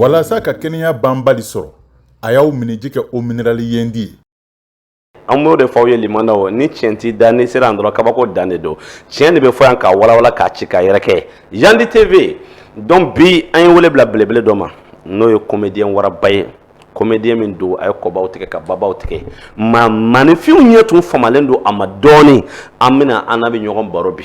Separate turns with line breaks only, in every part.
Walasa ka kɛnɛya banbali sɔrɔ a y'aw minniji kɛ eau minérale Yendi ye an
b'o de fɔ aw ye limanda o ni tiɲɛ t'i da n'i sera yan dɔrɔn kabako dan de don tiɲɛ de bɛ fɔ yan k'a walawala k'a ci k'a yɛrɛkɛ yandi tv donc bi an ye wele bila belebele dɔ ma n'o ye comédien waraba ye comédien min don a ye kɔbaw tigɛ ka babaw tigɛ ma maaninfinw ɲɛ tun famalen don a ma dɔɔnin an bɛna an n'a bɛ ɲɔgɔn baro bi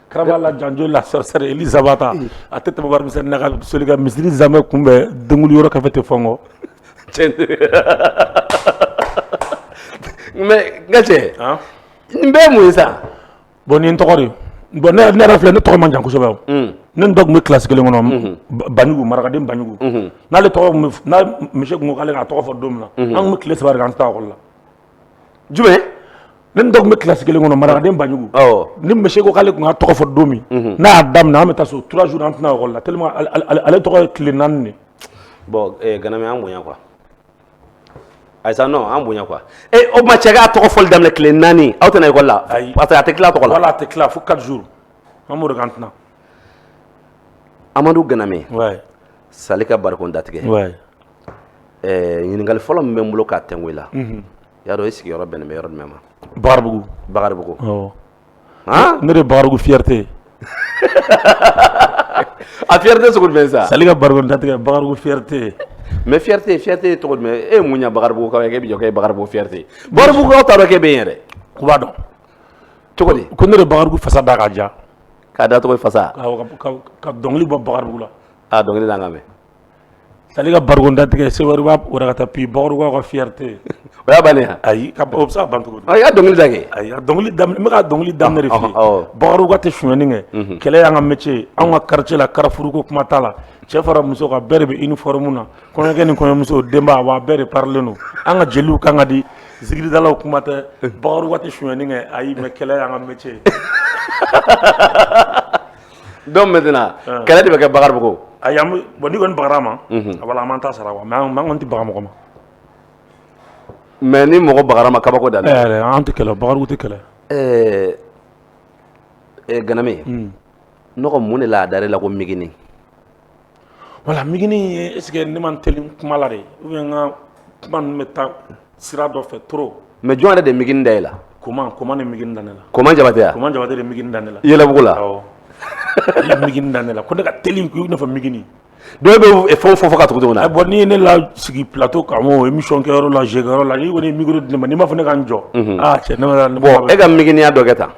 Karabala janjo la sorcière Elizabata a tɛ tɛmɛ seli ka misiri zanmɛ tun bɛ den yɔrɔ ka tɛ fɔ kɔ
mais n ka cɛ n bɛɛ mun ye sa bɔn nin
tɔgɔ bɔn ne ne yɛrɛ filɛ ne tɔgɔ man jan kosɛbɛ ne ni dɔ tun bɛ kilasi kelen kɔnɔ banjugu marakaden banjugu n'ale tɔgɔ monsieur tun ko k'ale ka tɔgɔ fɔ don min na an tun bɛ tile saba de kɛ an tɛ taa ekɔli la
jumɛn
ne ni dɔ tun bɛ kilasi kelen kɔnɔ marakaden banjugu ni monsieur ko k'ale tun ka tɔgɔ fɔ don min n'a y'a daminɛ an bɛ taa so trois jours an tɛ na ekɔli la tellement ale tɔgɔ ye tile naani de bon
Ganame an bonya quoi ayi sa non an bonya quoi ee o ma cɛ k'a tɔgɔ fɔli daminɛ tile naani aw tɛ na ekɔli la parce que a tɛ tila tɔgɔ la a tɛ tila fo
quatre jours an b'o de ko an tɛ
na amadu Ganame
Sali ka barikon
datigɛ ɛɛ ɲininkali fɔlɔ min bɛ n bolo k'a tɛngu i la, unhun, i y'a dɔn i sigiyɔrɔ bɛnnen bɛ yɔrɔ jumɛn ma? Bakaribugu, Bakaribugu, awɔ, han, ne de ye Bakaribugu fierté ye a fierté sugu jumɛn sa? Sali ka barikon datigɛ
Bakaribugu fierté mais
fierté fierté cogo jumɛn e ye mun ɲɛ Bakaribugukaw ye k'e bɛ jɔ k'e ye Bakaribugu fierté ye Bakaribugukaw t'a dɔn k'e bɛ yen yɛrɛ, u b'a
dɔn, cogo di,
ko ne de ye Bakaribugu fasa da
k'a ja, k'a da cogo di fasa,
awɔ, ka
dɔnkili bɔ Bakaribugu la, a dɔnkili da an k'a mɛn
Sali
ka barikon datigɛ se wari b'a ka taa bi Bakaribugukaw ka fierté o y'a
bannen ye ayi o bɛ se ka
ban cogo di a y'a dɔnkili da kɛ ayi
n bɛ ka
dɔnkili da Bakaribugukaw tɛ sonyɛni kɛ kɛlɛ y'an ka métier an ka quartier la karafuruko kuma t'a la cɛ fara muso kan bɛɛ de bɛ uniforme na kɔɲɔkɛ ni kɔɲɔmuso denba wa bɛɛ de parilen don an ka jeliw kan ka di zikiridalaw kuma tɛ Bakaribugukaw tɛ sonyɛni kɛ ayi mais kɛlɛ y'an ka métier
Don mɛnt kɛlɛ de bɛ kɛ babugu a bɔn ni
kɔni bakarara ma a an ta sara wa mɛ man tɛ bagan mɔgɔ ma mɛ
ni mɔgɔ bara ma kabako da an tɛ kɛlɛ bakarijanraw
tɛ kɛlɛ ɛɛ
gana n mun de la a da la ko mini
voilà migini est ce que ne man teli kuma la de ou bien n ka kuma ninnu bɛ taa sira dɔ fɛ trop mais jɔn yɛrɛ de migini
da i la koman koman de migini
da ne la koman jabate ya koman jabate
de migini da ne la
yɛlɛbugu la ale migini da ne la ko ne ka teli ko i n'a fɔ migini dɔw
bɛ fɛn fɔ fɔ ka tugu na bon n'i ye ne lasigi
plateau kan o émission kɛyɔrɔ la jɛkɛyɔrɔ la n'i kɔni micro di ne ma n'i m'a fɔ ne ka n jɔ aa cɛ ne ma bon e ka miginiya dɔ
kɛ tan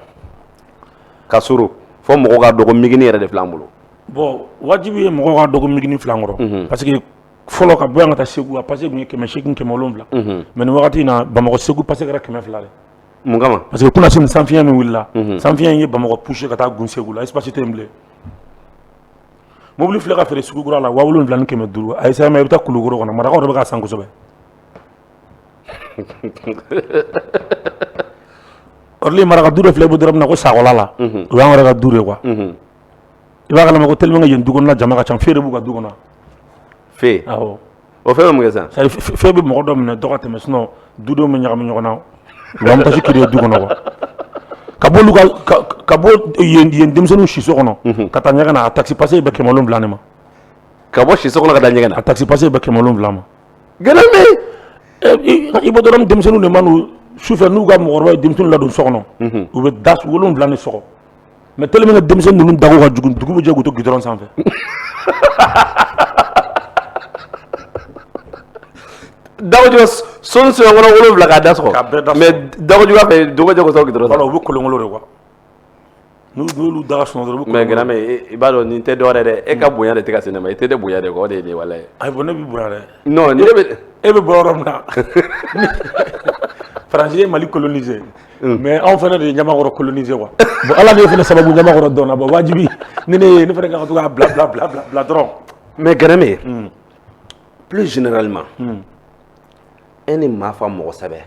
ka surun fɔ mɔgɔw k'a dɔn ko migini yɛrɛ de filɛ an bolo Bon
wajibi ye mɔgɔw k'a dɔn ko migini filɛ an kɔrɔ parce que fɔlɔ ka bɔ yan ka taa segu a passé tun ye kɛmɛ se kɛmɛ wolonwula mais nin wagati in na bamakɔ segu passé kɛmɛ fila mun kama parce
que kunasini sanfiɲɛ
min wulila sanfiɲɛ ye bamakɔ poussé ka taa gun segu la espace tɛ yen bilen mobili filɛ ka feere sugu kura la wa wolonwula ni kɛmɛ duuru a ye sa i bɛ taa kulukɔrɔ kɔnɔ marakaw de bɛ k'a san kosɛbɛ maraka du dɔ filɛ bɛ dɔrɔn min na ko sakɔla la o y'an yɛrɛ ka du de quoi i b'a kalama ko tellement que yen du kɔnɔna jama ka ca feu de b'u ka du kɔnɔ
feu
awɔ o feu bɛ mun kɛ
sisan c'est à dire feu bɛ mɔgɔ
dɔ minɛ dɔ ka tɛmɛ sinon dudenw bɛ ɲagami ɲɔgɔn na u b'an taxi créer du kɔnɔ quoi ka bɔ olu ka ka bɔ yen yen denmisɛnninw siso kɔnɔ ka taa ɲɛgɛn na a taxi passé bɛ kɛmɛ wolonwula ne ma ka
bɔ siso kɔnɔ ka taa ɲɛgɛn na a taxi passé bɛ kɛmɛ
wolonwula ma ganame
yen
i bɔ dɔrɔn denmisɛnninw de ma n'u sufɛ n'u ka mɔgɔkɔrɔba ye denmisɛnninw ladon so kɔnɔ u bɛ da wolonwula de sɔgɔ mais tellement que denmisɛnnin ninnu dago ka jugu dugu bɛ jɛ k'u to goudron
sanfɛ dago juguya so so kɔnɔ wolo wolonwula ka da sɔgɔ mais
dago juguya fɛ
dugu bɛ jɛ k'u to goudron na u bɛ kolonkolon de
quoi n'olu da sun dɔrɔn mais ganame i b'a
dɔn nin tɛ dɔwɛrɛ dɛ e ka bonya de tɛ ka se ne ma i tɛ ne bonya de quoi o de ye nin wale ye ayi bon ne b'i bonya dɛ e bɛ bɔ yɔrɔ min na
faransi ye mali coloniser mais anw fana de ye ɲamakɔrɔ coloniser quoi bon ala ne fana sababu ɲamakɔrɔ dɔnna bon wajibi ni ne ye ne fana ka to k'a bila bila bila bila dɔrɔn mais ganame
plus généralement e ni maa fa mɔgɔ sɛbɛ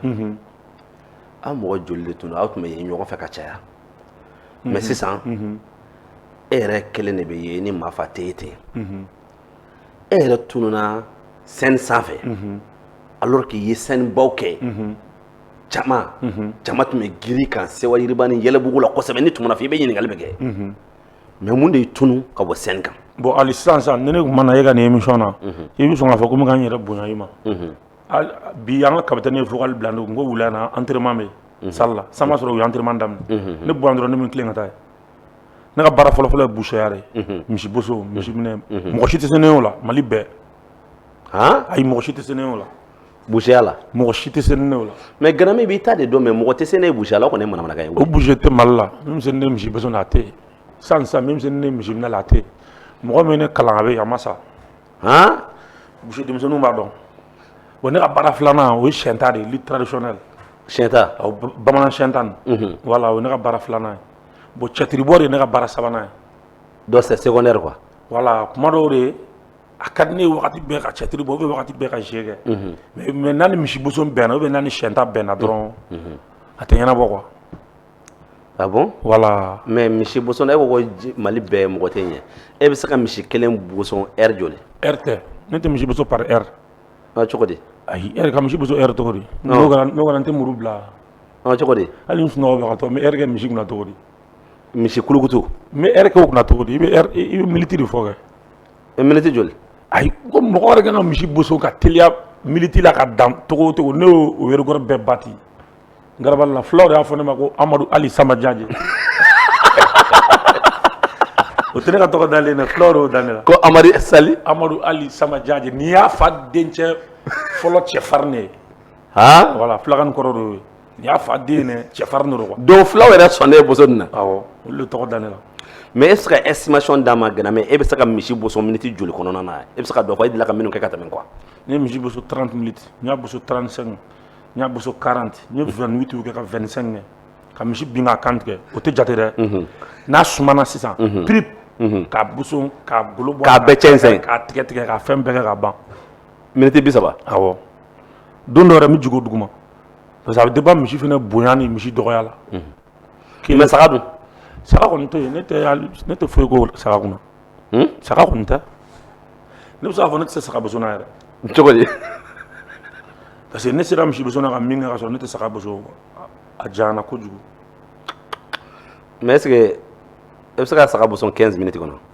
aw mɔgɔ joli de tun aw tun bɛ ye ɲɔgɔn fɛ ka caya mais sisan e yɛrɛ kelen de bɛ ye ni maa fa tɛ ye ten e yɛrɛ tununna scène sanfɛ alors qu'i ye scène baw kɛ jama jama tun bɛ girin i kan sewa yiriba ni yɛlɛbugu la kosɛbɛ n'i tununa fɔ i bɛ ɲininkali bɛ kɛ mais mun de y'i tunun ka bɔ scène kan bon ali sisan sisan ni
ne tun ma na e ka nin émission na i bɛ sɔn k'a fɔ ko n bɛ n yɛrɛ bonya i ma bi an ka capitaine ye vocal bila ko wula na entraînement bɛ salle la san b'a sɔrɔ u ye entraînement daminɛ ne bɔ yan dɔrɔn ne bɛ n tilen ka taa yen ne ka baara fɔlɔfɔlɔ ye boucherie ye misiboso misi minɛ mɔgɔ si tɛ se ne o la mali bɛɛ ayi mɔgɔ si tɛ se ne o la Boya la
mɔgɔ si tɛ se ne la
mɛ g min b'i ta de
don mɛ mɔgɔ tɛ se ne buyala kɔni ne mara ye o bo tɛ mali la
ne misi a tɛ san san ne misi la tɛ mɔgɔ min ne kalan a bɛ a ma sa misi denmisɛnnin b'a dɔn o ne ka baara filanan o ye sɛ ta de ye litara s sɛta
bamanan sɛ
tan wala o ne ka baara filanan ye bon cɛtiriri bɔ de ye ne ka baara sabanan ye dɔ sɛ sɛ
ne wala kuma dɔw
de ye a ka di ne waati bɛɛ ka cɛtiri bɔ ou bien waati bɛɛ ka jeu kɛ mais n'a ni misi boso bɛnna ou bien n'a ni siyɛnta bɛnna dɔrɔn a tɛ ɲɛnabɔ
quoi ah bon voilà mais misi
boso e
ko mali bɛɛ mɔgɔ t'i ɲɛ e bɛ se ka misi kelen boso heure joli heure tɛ
ne tɛ misi boso par heure cogo
di ayi heure ka misi
boso heure cogo di n'o kɛra n tɛ muru bila cogo di
hali n sunɔgɔtɔ n
bɛ heure kɛ misi kunna cogo di misi kulukutu
n bɛ heure kɛ o kunna
cogo di i bɛ i bɛ minute de fɔ kɛ e minute
joli ayi ko
mɔgɔ wɛrɛ ka ka misi boso ka teliya minute la ka dan tɔgɔ o tɔgɔ ne y'o record bɛɛ bati Garabali la fulaw y'a fɔ ne ma ko amadu ali sama jaje o tɛ ne ka tɔgɔ dalen dɛ fulaw y'o da ne la ko amadu sa
amadu ali sama
jaje n'i y'a fa dencɛ fɔlɔ cɛfarin ne ye voilà fulakan kɔrɔ d'o ye N'i y'a fa den ye dɛ, cɛfarin de don quoi donc fulaw yɛrɛ sɔnnen
don boso nin na, awɔ, olu de tɔgɔ
da ne la, mais e bɛ se
ka estimation d'a ma Ganame, e bɛ se ka misi boso minutes joli kɔnɔna na, e bɛ se ka dɔ fɔ e delila ka minnu kɛ ka tɛmɛ quoi n ye misi boso
30 minutes n y'a boso 35 n y'a boso 40 n ye 28 kɛ ka 25 kɛ ka misi bin k'a kan tigɛ o tɛ jate dɛ, n'a sumana sisan pirip k'a boso k'a golo bɔ, k'a bɛɛ cɛnsɛn, k'a tigɛ
tigɛ k'a fɛn
bɛɛ kɛ ka ban, minutes 30,
awɔ,
don dɔ yɛrɛ n bɛ jigin o duguma parce que a bɛ dépend misi fana bonya ni misi dɔgɔya la, unhun, k'i
mais saga dun? saga kɔni tɛ
yen, ne tɛ hali ne tɛ foyi k'o saga kunna, un, saga kɔni tɛ, ne bɛ se k'a fɔ ne tɛ se saga boso la yɛrɛ, cogo di? parce que ne sera misi boso la ka min kɛ ka sɔrɔ ne tɛ saga boso a janyana kojugu,
mais est ce que e bɛ se ka saga boso 15 minutes kɔnɔ?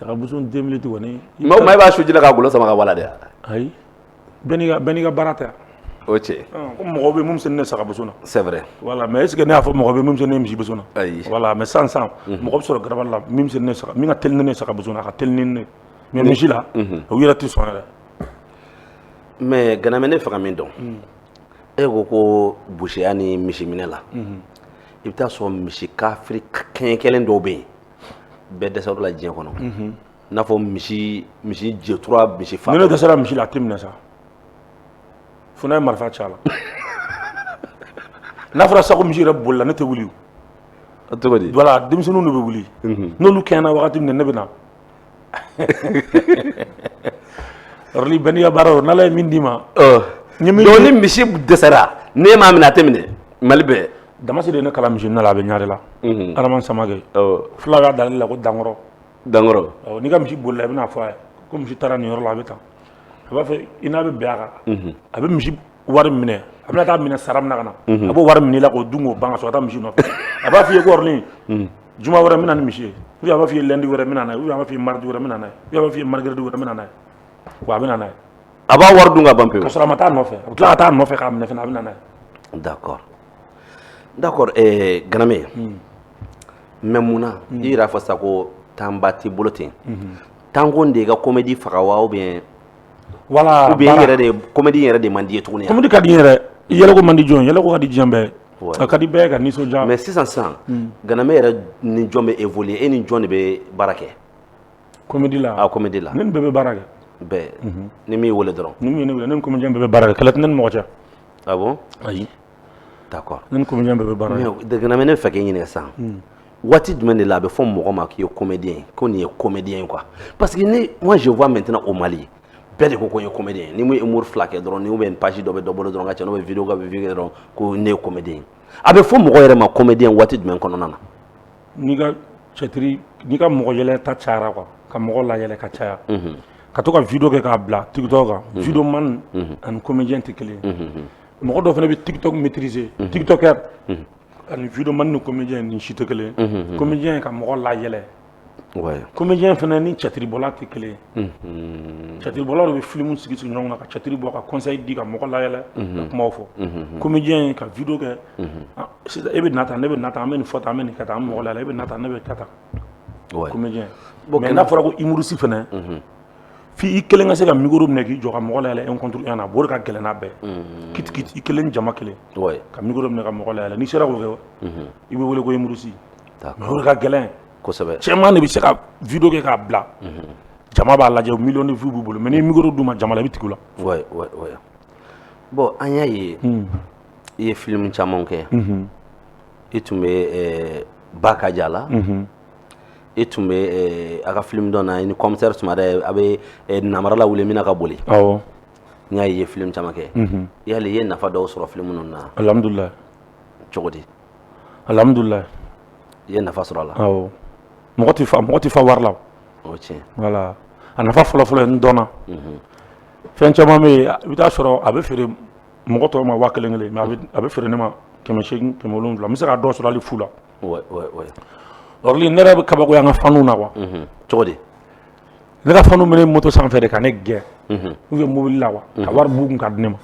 Sagamuso
tun maa maa i b'a su
ka golo sama ka wala dɛ ayi
bɛn ka baara ta o cɛ
mɔgɔ bɛ min
ne saga sɛɛrɛ wala mɛ
e ne y'a fɔ
mɔgɔ bɛ min ne misi ayi wala mɛ san
san
mɔgɔ bɛ sɔrɔ gaba la min ne ka teli ne saga a ka teli ne mɛ misi la o yɛrɛ tɛ sɔn
mɛ gmɛ ne faga min dɔn e ko ko boya ni misi minɛ la i bɛ taa sɔrɔ misi kafi kɛ kelen dɔw bɛ yen bɛɛ dɛsɛra u la diɲɛ kɔnɔ i n'a fɔ misi misi jɛtura misi fa ni ne dɛsɛra misi la a tɛ
minɛ sa fo n'a ye marifa ci a la n'a fɔra sa ko misi yɛrɛ bolila ne tɛ wuli cogo
di voilà denmisɛnninw de bɛ wuli
n'olu kɛɲɛna wagati min ne bɛ na yɔrɔli bɛɛ n'i ka baara don n'ala ye min d'i ma
donc ni misi dɛsɛra ne m'a minɛ a tɛ minɛ mali bɛɛ damasi de ye ne
kalan misi minɛ la a bɛ ɲare la adama samakɛ fula y'a dalen la ko dankɔrɔ dankɔrɔ n'i ka misi bolila i bɛna a fɔ a ye ko misi taara nin yɔrɔ la a bɛ taa a b'a fɔ i n'a bɛ bɛn a kan a bɛ misi wari minɛ a bɛna taa minɛ sara min na ka na a b'o wari minɛ i la k'o dun k'o ban ka sɔrɔ ka taa misi nɔfɛ a b'a f'i ye ko yɔrɔli juma wɛrɛ n bɛ na ni misi ye ou bien a b'a f'i ye lundi wɛrɛ n bɛ na n'a ye ou bien a b'a f'i ye mardi wɛrɛ n bɛ na n'a ye ou bien a b'a f'i ye mercredi wɛrɛ n bɛ na n'a ye wa a bɛ na n'a ye a b'a wari dun ka
ban pewu ka sɔrɔ a ma taa a nɔfɛ a bɛ
tila ka taa a nɔfɛ k'a minɛ fana a bɛ na n'a ye
d'accord d'accord eh, ganame mais mun na i yɛrɛ y'a fɔ sisan ko temps ba t'i bolo ten temps ko de y'i ka comédie faga wa ou bien
yɛrɛ
de comédie yɛrɛ de man d'i ye tuguni comédie ka di
yɛrɛ yɛlɛ ko man di jɔn ye yɛlɛ ko ka di diɲɛ bɛɛ ye a ka di bɛɛ ka nisɔndiya mais sisan sisan hmm.
ganame yɛrɛ ni jɔn bɛ évoluer e ni jɔn de bɛ baara kɛ
comédie la a comédie la ne ni bɛɛ bɛ
baara
kɛ bɛɛ
mhm. ni min weele dɔrɔn ni min ye ne weele ne ni
comédien bɛɛ bɛ baara kɛ kɛlɛ tɛ ne ni mɔgɔ cɛ ah bon
ayi
D'accord
ne ni comédien bɛɛ
bɛ baara kɛ mais ganame ne fɛ k'i
ɲininka sisan waati jumɛn de la a bɛ fɔ mɔgɔ ma k'i ye comédien ko nin ye comédien ye quoi parce que ne moi je vois maintenant au mali bɛɛ de ko n ye comédien ye n'i ye humour fila kɛ dɔrɔn ou bien page dɔ bɛ dɔ bolo dɔrɔn ka cɛ bɛ vidéo ka vidéo dɔrɔn ko ne ye comédien a bɛ fɔ mɔgɔ yɛrɛ ma comédien waati jumɛn kɔnɔna na n'i
ka cɛtiri n'i ka mɔgɔ yɛlɛ ta cayara quoi ka mɔgɔ layɛlɛ ka caya ka to ka vidéo kɛ k'a bila tiktok kan vidéo man ani comédien tɛ kelen mɔgɔ dɔ fana bɛ tiktok maîtriser mhm. tiktoker mhm. ani vidéo man ni comédien ni si tɛ kelen mhm, comédien ka mɔgɔ layɛlɛ comédien fana ni catiribɔla tɛ kelen catiribɔla de bɛ filimu sigi sigi ɲɔgɔn kan ka catiri bɔ ka conseil di ka mɔgɔ layɛlɛ ka kumaw fɔ comédien ka vidéo kɛ ah, sisan e bɛ na tan ne bɛ na tan an bɛ nin fɔ tan an bɛ nin kɛ tan an bɛ mɔgɔ layɛlɛ e bɛ na tan ne bɛ kɛ tan comédien mais n'a fɔra ko humoriste fana F'i kelen ka se ka micro minɛ k'i jɔ ka mɔgɔ layɛlɛ un contre un na o de ka gɛlɛn n'a bɛɛ k'i kelen jama kelen ka micro minɛ ka mɔgɔ layɛlɛ n'i sera k'o kɛ i bɛ wele ko humoriste o de ka gɛlɛn cɛman de
bɛ se ka
vidéo kɛ k'a bila jama b'a lajɛ million de vues b'u bolo mais ni micro d'u ma jama la i bɛ tugu
la bon an y'a ye i ye filimu caman kɛ i tun bɛ ba ka ja la e tun bɛ eh, a ka film dɔ na i ni commissaire Sumare a bɛ eh, namara la wuli mina ka boli
awɔ n y'a ye i
ye film caman kɛ mhm. yali i ye nafa dɔw sɔrɔ film ninnu na alhamdulilayi
cogo di
alhamdulilayi
i ye
nafa sɔrɔ a la
awɔ mɔgɔ tɛ fa mɔgɔ tɛ fa wari la o tiɲɛ
voilà
a nafa fɔlɔ fɔlɔ ye n dɔnna mhm. fɛn caman bɛ yen i bɛ taa sɔrɔ a bɛ feere mɔgɔ tɔw ma waa kelen kelen mais a bɛ feere ne ma kɛmɛ seegin kɛmɛ wolonwula n bɛ se ka dɔ sɔrɔ hali fu la Orly ne yɛrɛ bɛ kabakoya n ka faniw na quoi cogo
di ne
ka faniw bɛ ne moto sanfɛ de ka ne gɛn ou bien mobili la quoi ka wari b'u kun ka di ne ma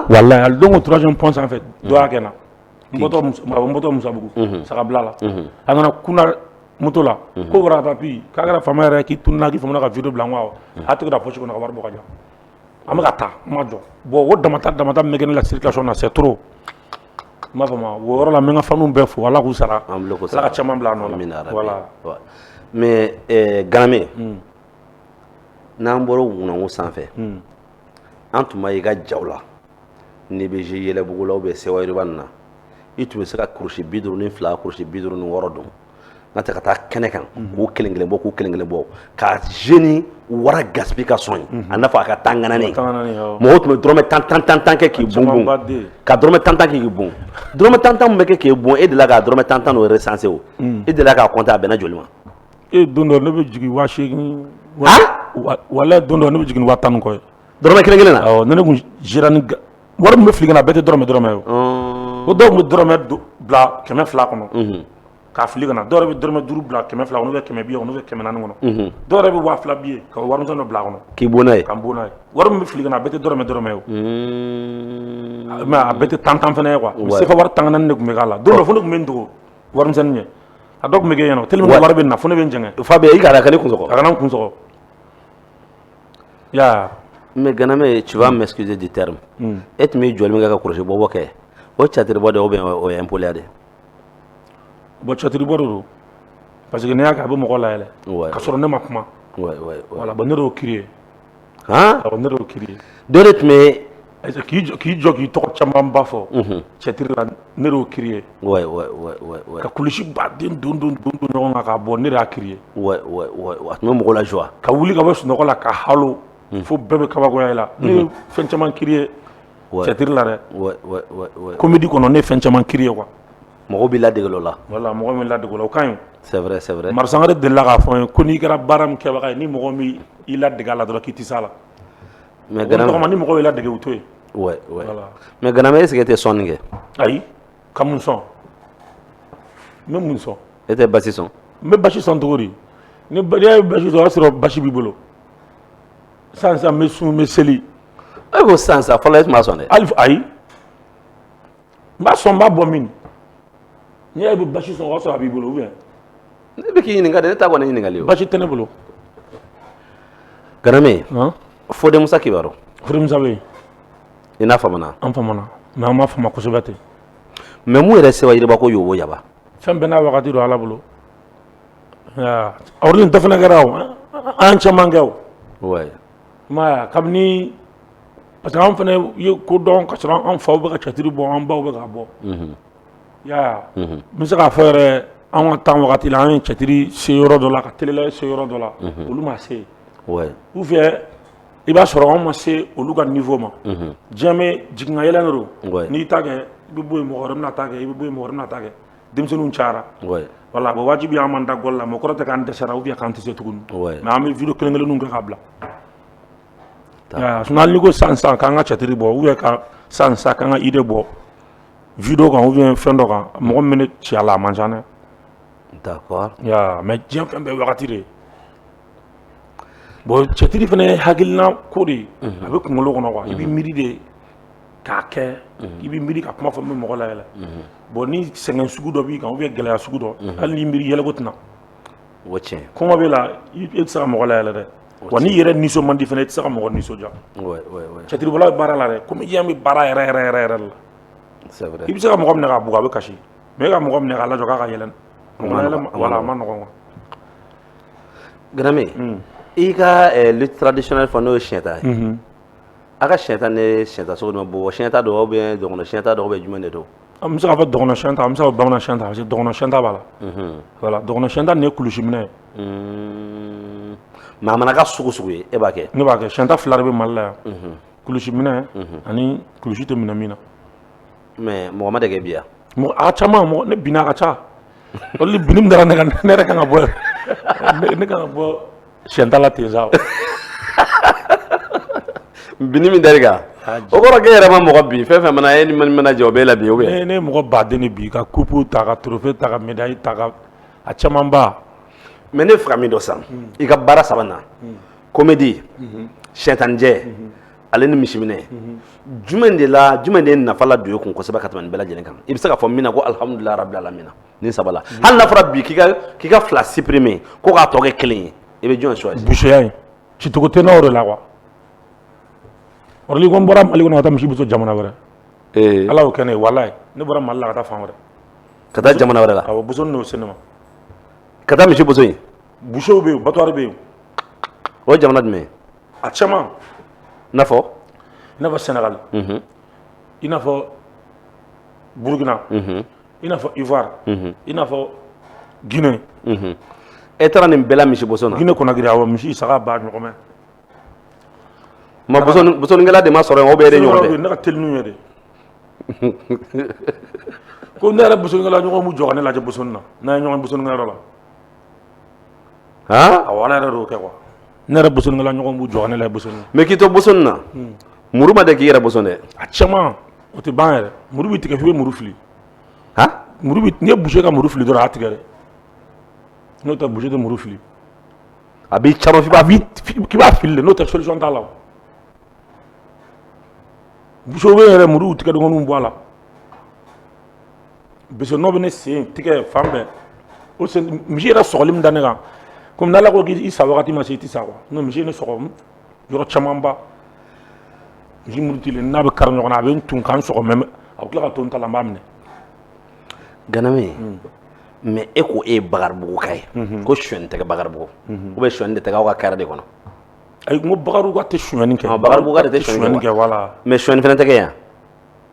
walayi don o troisième pont sanfɛ dɔ y'a kɛ n na n bɔtɔ musabugu sagabila la a nana kun moto la ko wara papi k'a kɛra fama yɛrɛ k'i tununa k'i famana ka vidéo bila quoi a tigi da poche kɔnɔ ka wari bɔ jɔ an bɛ ka taa n ma jɔ bon o dama damata min bɛ kɛ ne la circulation na c'est trop n b'a fɔ ma o yɔrɔ la n bɛ n ka faniw bɛɛ fo Ala k'u sara an bɛɛ k'u sara Ala ka caman bila a nɔ la amina yarabi voilà mais
ɛɛ Ganame n'an bɔra ŋunanŋu sanfɛ an tun b'a ye i ka jaw la n'i bɛ jouer Yɛlɛbugu la ou bien Sewayiriba ninnu na i tun bɛ se ka kurusi bi duuru ni fila kurusi bi duuru ni wɔɔrɔ don n'a tɛ ka taa kɛnɛ kan k'u kelen kelen bɔ k'u kelen kelen bɔ ka jeune Wara Gaspi ka son ye a n'a fɔ a ka tan ŋananen mɔgɔ tun bɛ dɔrɔmɛ tan tan tan tan kɛ k'i bon bon ka dɔrɔmɛ tan tan kɛ k'i bon dɔrɔmɛ tan tan min bɛ kɛ k'i bon e delila ka dɔrɔmɛ tan tan n'o recenser o e delila k'a compter a bɛnna joli ma e don dɔ
ne bɛ jigin waa seegin walayi don dɔ ne bɛ jigin ni waa tan ni kɔ ye dɔrɔmɛ kelen kelen na awɔ
ni ne kun gérera
ni wari min bɛ fili ka na bɛɛ tɛ dɔrɔmɛ dɔrɔmɛ ye o, ko dɔw tun bɛ dɔrɔmɛ bila kɛmɛ fila kɔnɔ k'a fili ka na dɔw yɛrɛ bɛ dɔrɔmɛ duuru bila kɛmɛ fila kɔnɔ ou bien kɛmɛ billet kɔnɔ ou bien kɛmɛ naani kɔnɔ dɔw yɛrɛ bɛ waa fila billet ka warimisɛn dɔ bila a kɔnɔ k'i bon n'a ye ka n bon n'a
ye wari min bɛ
fili ka na a bɛɛ tɛ dɔrɔmɛ dɔrɔmɛ ye o mais a bɛɛ tɛ tan tan fana ye quoi sefa wari tan ŋanan de tun bɛ k'a la don dɔ fo ne tun bɛ n dogo warimisɛnnin ɲɛ a dɔ tun bɛ kɛ yen nɔ tellement que wari bɛ na fo ne bɛ n jɛngɛ Fabe i kana kɛ ne kun sɔgɔ
a kana n kun sɔgɔ
yaa mais Ganamɛ
tu vas m'excuser du terme mm. e tun bɛ jɔli min kɛ ka kurusi bɔbɔ kɛ o catiribɔ de ou bien o ye impoliya de
bon catiribɔ de don parce que n'i y'a kɛ a bɛ mɔgɔ layɛlɛ ka sɔrɔ ne ma kuma voilà bon ne de y'o créer ne de y'o créer dɔ de tun bɛ
K'i jɔ k'i
jɔ k'i tɔgɔ camanba fɔ cɛtiri la ne de y'o créer ka kulusi ba den don don don don ɲɔgɔn kan k'a bɔ ne de y'a créer a tun
bɛ mɔgɔ la joie ka wuli ka bɔ sunɔgɔ la
ka halo fo bɛɛ bɛ kabakoya la ne fɛn caman créer cɛtiri la dɛ comédie kɔnɔ ne fɛn caman créer quoi mɔgɔ b'i ladege
la dɔ la voilà mɔgɔ b'i ladege
la o ka ɲi c'est vrai c'est
vrai Mari Sangare delila k'a fɔ
n ye ko n'i kɛra baara min kɛbaga ye ni mɔgɔ m'i ladege a la dɔrɔn k'i tɛ s'a la Mais Gana, o tɔgɔma ni mɔgɔw y'i ladege u to yen ouais,
ouais.
Voilà. mais Ganame est ce que e
tɛ sɔnni kɛ
ayi ka mun sɔn n bɛ mun sɔn e tɛ basi sɔn
n bɛ basi sɔn cogo
di ni ba- n'i y'a ye basi sɔn o y'a sɔrɔ basi b'i bolo sisan sisan n bɛ sun n bɛ seli e ko sisan
sa fɔlɔ e tun b'a sɔn dɛ hali ayi
n b'a sɔn n b'a bɔ min n'i y'a bɛ basi sɔn o y'a sɔrɔ a b'i bolo ou bien ne bɛ
k'i ɲininka dɛ ne t'a kɔni ɲininkali ye basi tɛ ne bolo ganame fode
musa kibaru
fode musa bɛ yen
i n'a
famana an famana mais an
ma fama kosɛbɛ ten mais
mun yɛrɛ seba yiriba ko yobo yaba fɛn bɛɛ n'a
wagati don ala bolo awurudin dɔ fana kɛra o an caman kɛ o
maya
kabini Parce que anw fana ye ko dɔn ka sɔrɔ an faw bɛ ka cɛtiri bɔ an baw bɛ ka bɔ ya n bɛ se k'a fɔ yɛrɛ an ka temps wagati la an ye cɛtiri se yɔrɔ dɔ la ka tla se yɔrɔ dɔ la olu ma se ou bien i b'a sɔrɔ anw ma se olu ka niveau ma diɲɛ jigin ka yɛlɛ de don n'i ta kɛ i bɛ bɔ yen mɔgɔ wɛrɛ bɛna ta kɛ i bɛ bɔ yen mɔgɔ wɛrɛ bɛna ta kɛ denmisɛnninw cayara voilà bon wajibi an man da gla mais kɔrɔ tɛ k'an dɛsɛra ou bien an tɛ se tuguni mais an bɛ vidéo kelen kelenninw kɛ k'a bila sinon hali n'i ko sisan k'an ka catiri bɔ ou bien ka sisan k'an ka idée bɔ vidéo kan ou bien fɛn dɔ kan mɔgɔ min bɛ ne ci a la a man ca dɛ
mais diɲɛ
fɛn bɛɛ wagati de bon cɛtiri fana ye hakilina ko de ye a bɛ kunkolo kɔnɔ quoi i bɛ miiri de k'a kɛ i bɛ miiri ka kuma fɔ min bɛ mɔgɔ layɛlɛ bon ni sɛgɛn sugu dɔ b'i kan ou bien gɛlɛya sugu dɔ hali n'i miiri yɛlɛko tɛ na o tiɲɛ
kɔngɔ b'e la
e tɛ se ka mɔgɔ layɛlɛ dɛ Wa n'i yɛrɛ nisɔn man di fana i tɛ se ka mɔgɔ nisɔndiya, ouais ouais ouais cɛtiribɔla bɛ baara la dɛ comédien bɛ baara yɛrɛ yɛrɛ yɛrɛ de la, c'est vrai
i bɛ se ka mɔgɔ minɛ k'a bugɔ a
bɛ kasi mais e ka mɔgɔ minɛ k'a lajɔ k'a ka yɛlɛ o ma nɔgɔ voilà a ma nɔgɔ quoi Ganame,
un, i y'i ka lutte traditionnelle fɔ n'o ye siɲɛta ye, unhun A ka siyɛta nin ye siyɛta sugu jumɛn bɔ siyɛta don ou bien dɔgɔn siyɛta don ou bien jumɛn de don an bɛ se k'a fɔ dɔgɔn
siyɛnta an bɛ se k'a fɔ bamanan siyɛnta parce que dɔgɔn siyɛnta b'a la voilà dɔgɔn siyɛnta nin ye kulusi minɛ ye
mais a mana kɛ sugu o sugu ye e b'a kɛ ne b'a kɛ siyɛnta fila de bɛ
mali la yan kulusi minɛ ani kulusi tɛ minɛ min na
mais mɔgɔ ma deli k'e bin wa? A ka ca
ne binna a ka ca olu binni min dara ne kan ne yɛrɛ kan ka bɔ ne kan ka bɔ siyɛnta la ten sa o.
binni min dar'i kan o kɔrɔ k'e yɛrɛ ma mɔgɔ bin fɛn o fɛn mana e ni min mana jɛ o b'e labin ou bien? Ne ne ye mɔgɔ baden de
bin ka coupe ta ka trophée ta ka médaille ta ka a camanba. Mais ne b'a fɛ ka
min dɔn sisan i ka baara saba in na comédie siyɛnta nin jɛ ale ni misiminɛ jumɛn de la jumɛn de ye nafa ladon e kun kosɛbɛ ka tɛmɛ nin bɛɛ lajɛlen kan i bɛ se ka fɔ min na ko alihamudulilayi rabil alamina nin saba la hali n'a fɔra bi k'i ka k'i ka fila supprimer ko k'a tɔ kɛ kelen ye i bɛ jɔn choisir buseya in
cicogo tɛ n'o de la quoi ɔrɔ ni ko n bɔra mali kɔnɔ ka taa misi boso jamana wɛrɛ ee ala y'o kɛ ne ye walayi ne bɔra mali la ka taa fan wɛrɛ ka taa jamana
wɛrɛ la awɔ boso n'o se ne ma
ka taa
misi boso yen busew bɛ yen
batwari bɛ yen o ye
jamana jumɛn ye a
caman n'a
fɔ i n'a fɔ
sɛnɛgali i n'a fɔ burukina i n'a fɔ ivoire i n'a fɔ guinée
e taara nin bɛɛ la misiboso na guinée conakry awɔ
misi saga ba
ɲɔgɔmɛ mais bosonikɛla de ma sɔrɔ yen o bɛ e de ɲɔgɔn tɛ ne ka teli n'u ye
de ko ne yɛrɛ bosonikɛla ɲɔgɔn b'u jɔ ka ne lajɛ bosoni na n'an ye ɲɔgɔn bosonikɛyɔrɔ la aa awɔ Ala yɛrɛ de y'o kɛ quoi ne yɛrɛ bosonnikɛla ɲɔgɔn b'u jɔ ka ne lajɛ bosonni na mais k'i to bosonni
na muru ma deli k'i yɛrɛ boson dɛ a caman
o tɛ ban yɛrɛ muru b'i tigɛ f'i bɛ muru fili han muru bɛ n'i ye boucher ka muru fili dɔrɔn a y'a tigɛ dɛ n'o tɛ boucher tɛ muru fili a
b'i caman f'i b'a a b'i fi- k'i b'a fili
de n'o tɛ solution t'a la o boucher bɛɛ yɛrɛ muru tigɛ dɔgɔninw bɔ a la parce nɔ bɛ ne sen tɛgɛ fan bɛɛ o misi yɛrɛ sɔgɔli min da ne kan kɔmi ala ko k'i sa wagati ma se i tɛ sa n'o misi ye ne sɔgɔ yɔrɔ camanba misi murutilen n'a bɛ kari ɲɔgɔn na a bɛ n tu ka n sɔgɔ mais a tila ka to n ta n b'a
minɛ ganame hmm. mais e ko e ye bakaribuguka ye hmm. ko suyɛni tɛ kɛ bakaribugu hmm. ou bien suyɛni de tɛ kɛ aw ka carré de kɔnɔ ayi n ko
bakaribuguka tɛ suyɛni kɛ bakaribuguka de tɛ suyɛni
kɛ voilà mais suyɛni
fana tɛ kɛ yan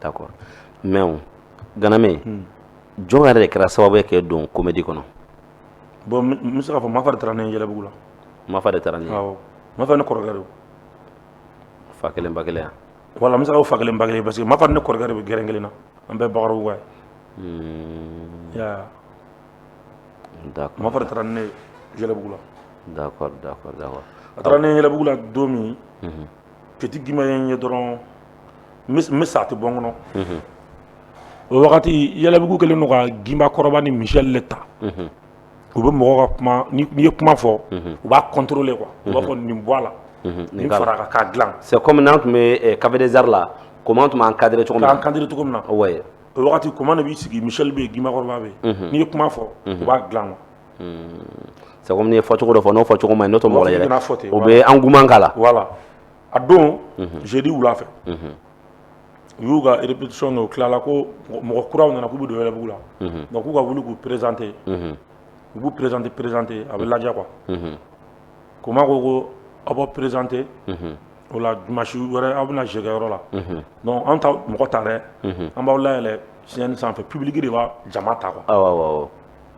D'accord mais o ganame unhun jɔn yɛrɛ de kɛra sababu ye k'e don comédie kɔnɔ bon n
n be se k'a fɔ Mafa de taara ne ye Yɛlɛbugu la Mafa de taara
n'i ye awɔ Mafa ye ne kɔrɔkɛ
de ye
fa 1 ba 1 a voilà n be se k'a fɔ fa
1 ba 1 parce que Mafa ni ne kɔrɔkɛ de be gɛrɛn 1 na an bɛɛ ye Bakaribuguka ye unhun i y'a ye
a d'accord Mafa de taara ni
ne ye Yɛlɛbugu la d'accord d'accord
d'accord a
taara ne ye Yɛlɛbugu la don min unhun Petit Gimba ye n ye dɔrɔn n bɛ n bɛ sa a tɛ bɔ n kɔnɔ. Unhun. O wagati Yɛlɛbugu kɛlen don ka Gimba kɔrɔba ni Michel de ta. Unhun. U bɛ mɔgɔw ka kuma n'i n'i ye kuma fɔ. Unhun. U b'a contrôler quoi. Unhun. U b'a fɔ nin bɔ a la. Unhun. Nin fara a kan k'a dilan. C'est comme n'an tun
bɛ café des arts la Koman tun b'an cadrer cogo min na. K'an cadrer cogo min na.
Ouais! O wagati
Koman de
b'i sigi Michel bɛ yen Gimba kɔrɔba bɛ yen. Unhun. N'i ye kuma fɔ. Unhun. U b'a dilan quoi. Sabu
ye fɔ cogo dɔ fɔ n'o fɔ cogo ma n'o mɔgɔ o bɛ an kuma la
wala
a
don zodi wula fɛ u y'u ka rerepsion o tilala ko mɔgɔ kuraw nana k'u bɛ don yɛrɛ b'u la nka k'u ka wuli k'u perezte u b'u perezte perezte a bɛ lajɛ qu ko ma ko ko aw bɔ perezte o la masi wɛrɛ aw bɛna jɛgɛkɛyɔrɔ la an ta mɔgɔ ta dɛ an b'aw la yɛlɛ si sanfɛ pbiriki de b' jama ta kuwa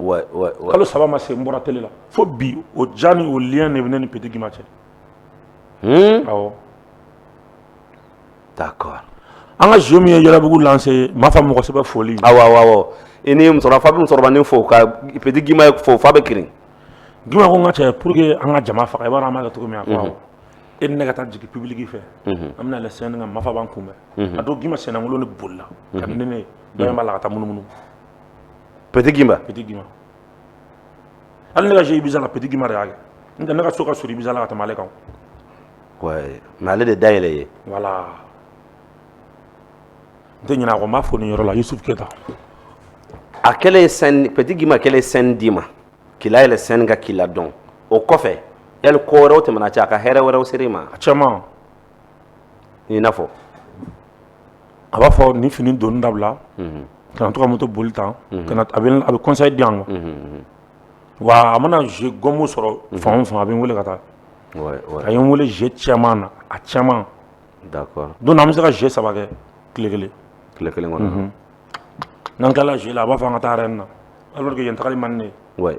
kalo saba
ma se n bɔra tele la fo bi o diya ni o lien de bɛ ne ni Petit Gima cɛ hmm?
awɔ d'accord an ka jeu
min ye Yɛlɛbugu lancé Mafa mɔgɔ sɛbɛ foli awɔ awɔ awɔ
i ni musokɔrɔba fa bɛ musokɔrɔbanin fo ka Petit Gima fo fa bɛ kirin Gima ko n
ka cɛ pour que an ka jama faga i b'a dɔn an b'a kɛ cogo min a ko awɔ e ni ne ka taa jigin public fɛ an bɛna yɛlɛ scène kan Mafa b'an kunbɛn a don Gima sennakolon de bolila ka ni ne ye dɔ in b'a la ka taa munumunu
Petit Gimba. Petit
Gimba. Hali ne ka jeu Ibiza la Petit Gimba de y'a kɛ. N tɛ ne ka so ka surun Ibiza la ka tɛmɛ ale kan. Ouais,
mais ale de dayɛlɛ ye. Voilà.
N tɛ ɲinɛ a kɔ, n b'a fo nin yɔrɔ la Yusuf
Keyita. A kɛlen ye scène, Petit Gimba kɛlen ye scène d'i ma, k'i layɛlɛ scène kan k'i ladɔn, o kɔfɛ yali ko wɛrɛw tɛmɛn'aw cɛ a ka hɛrɛ wɛrɛw ser'i ma? A caman. i n'a
fɔ a b'a fɔ nin fini donni dabila kana to ka moto boli tan a bɛ conseil di yan wa a mana jeu gɔnmu sɔrɔ fan o fan a bɛ n wele ka taa a ye n wele jeu caman na a
caman don na an bɛ se ka
jeu saba kɛ tile kelen tile kelen kɔnɔ
n'an
tilala jeu la a b'a fɔ an ka taa Arena alors que yen tagali man di ne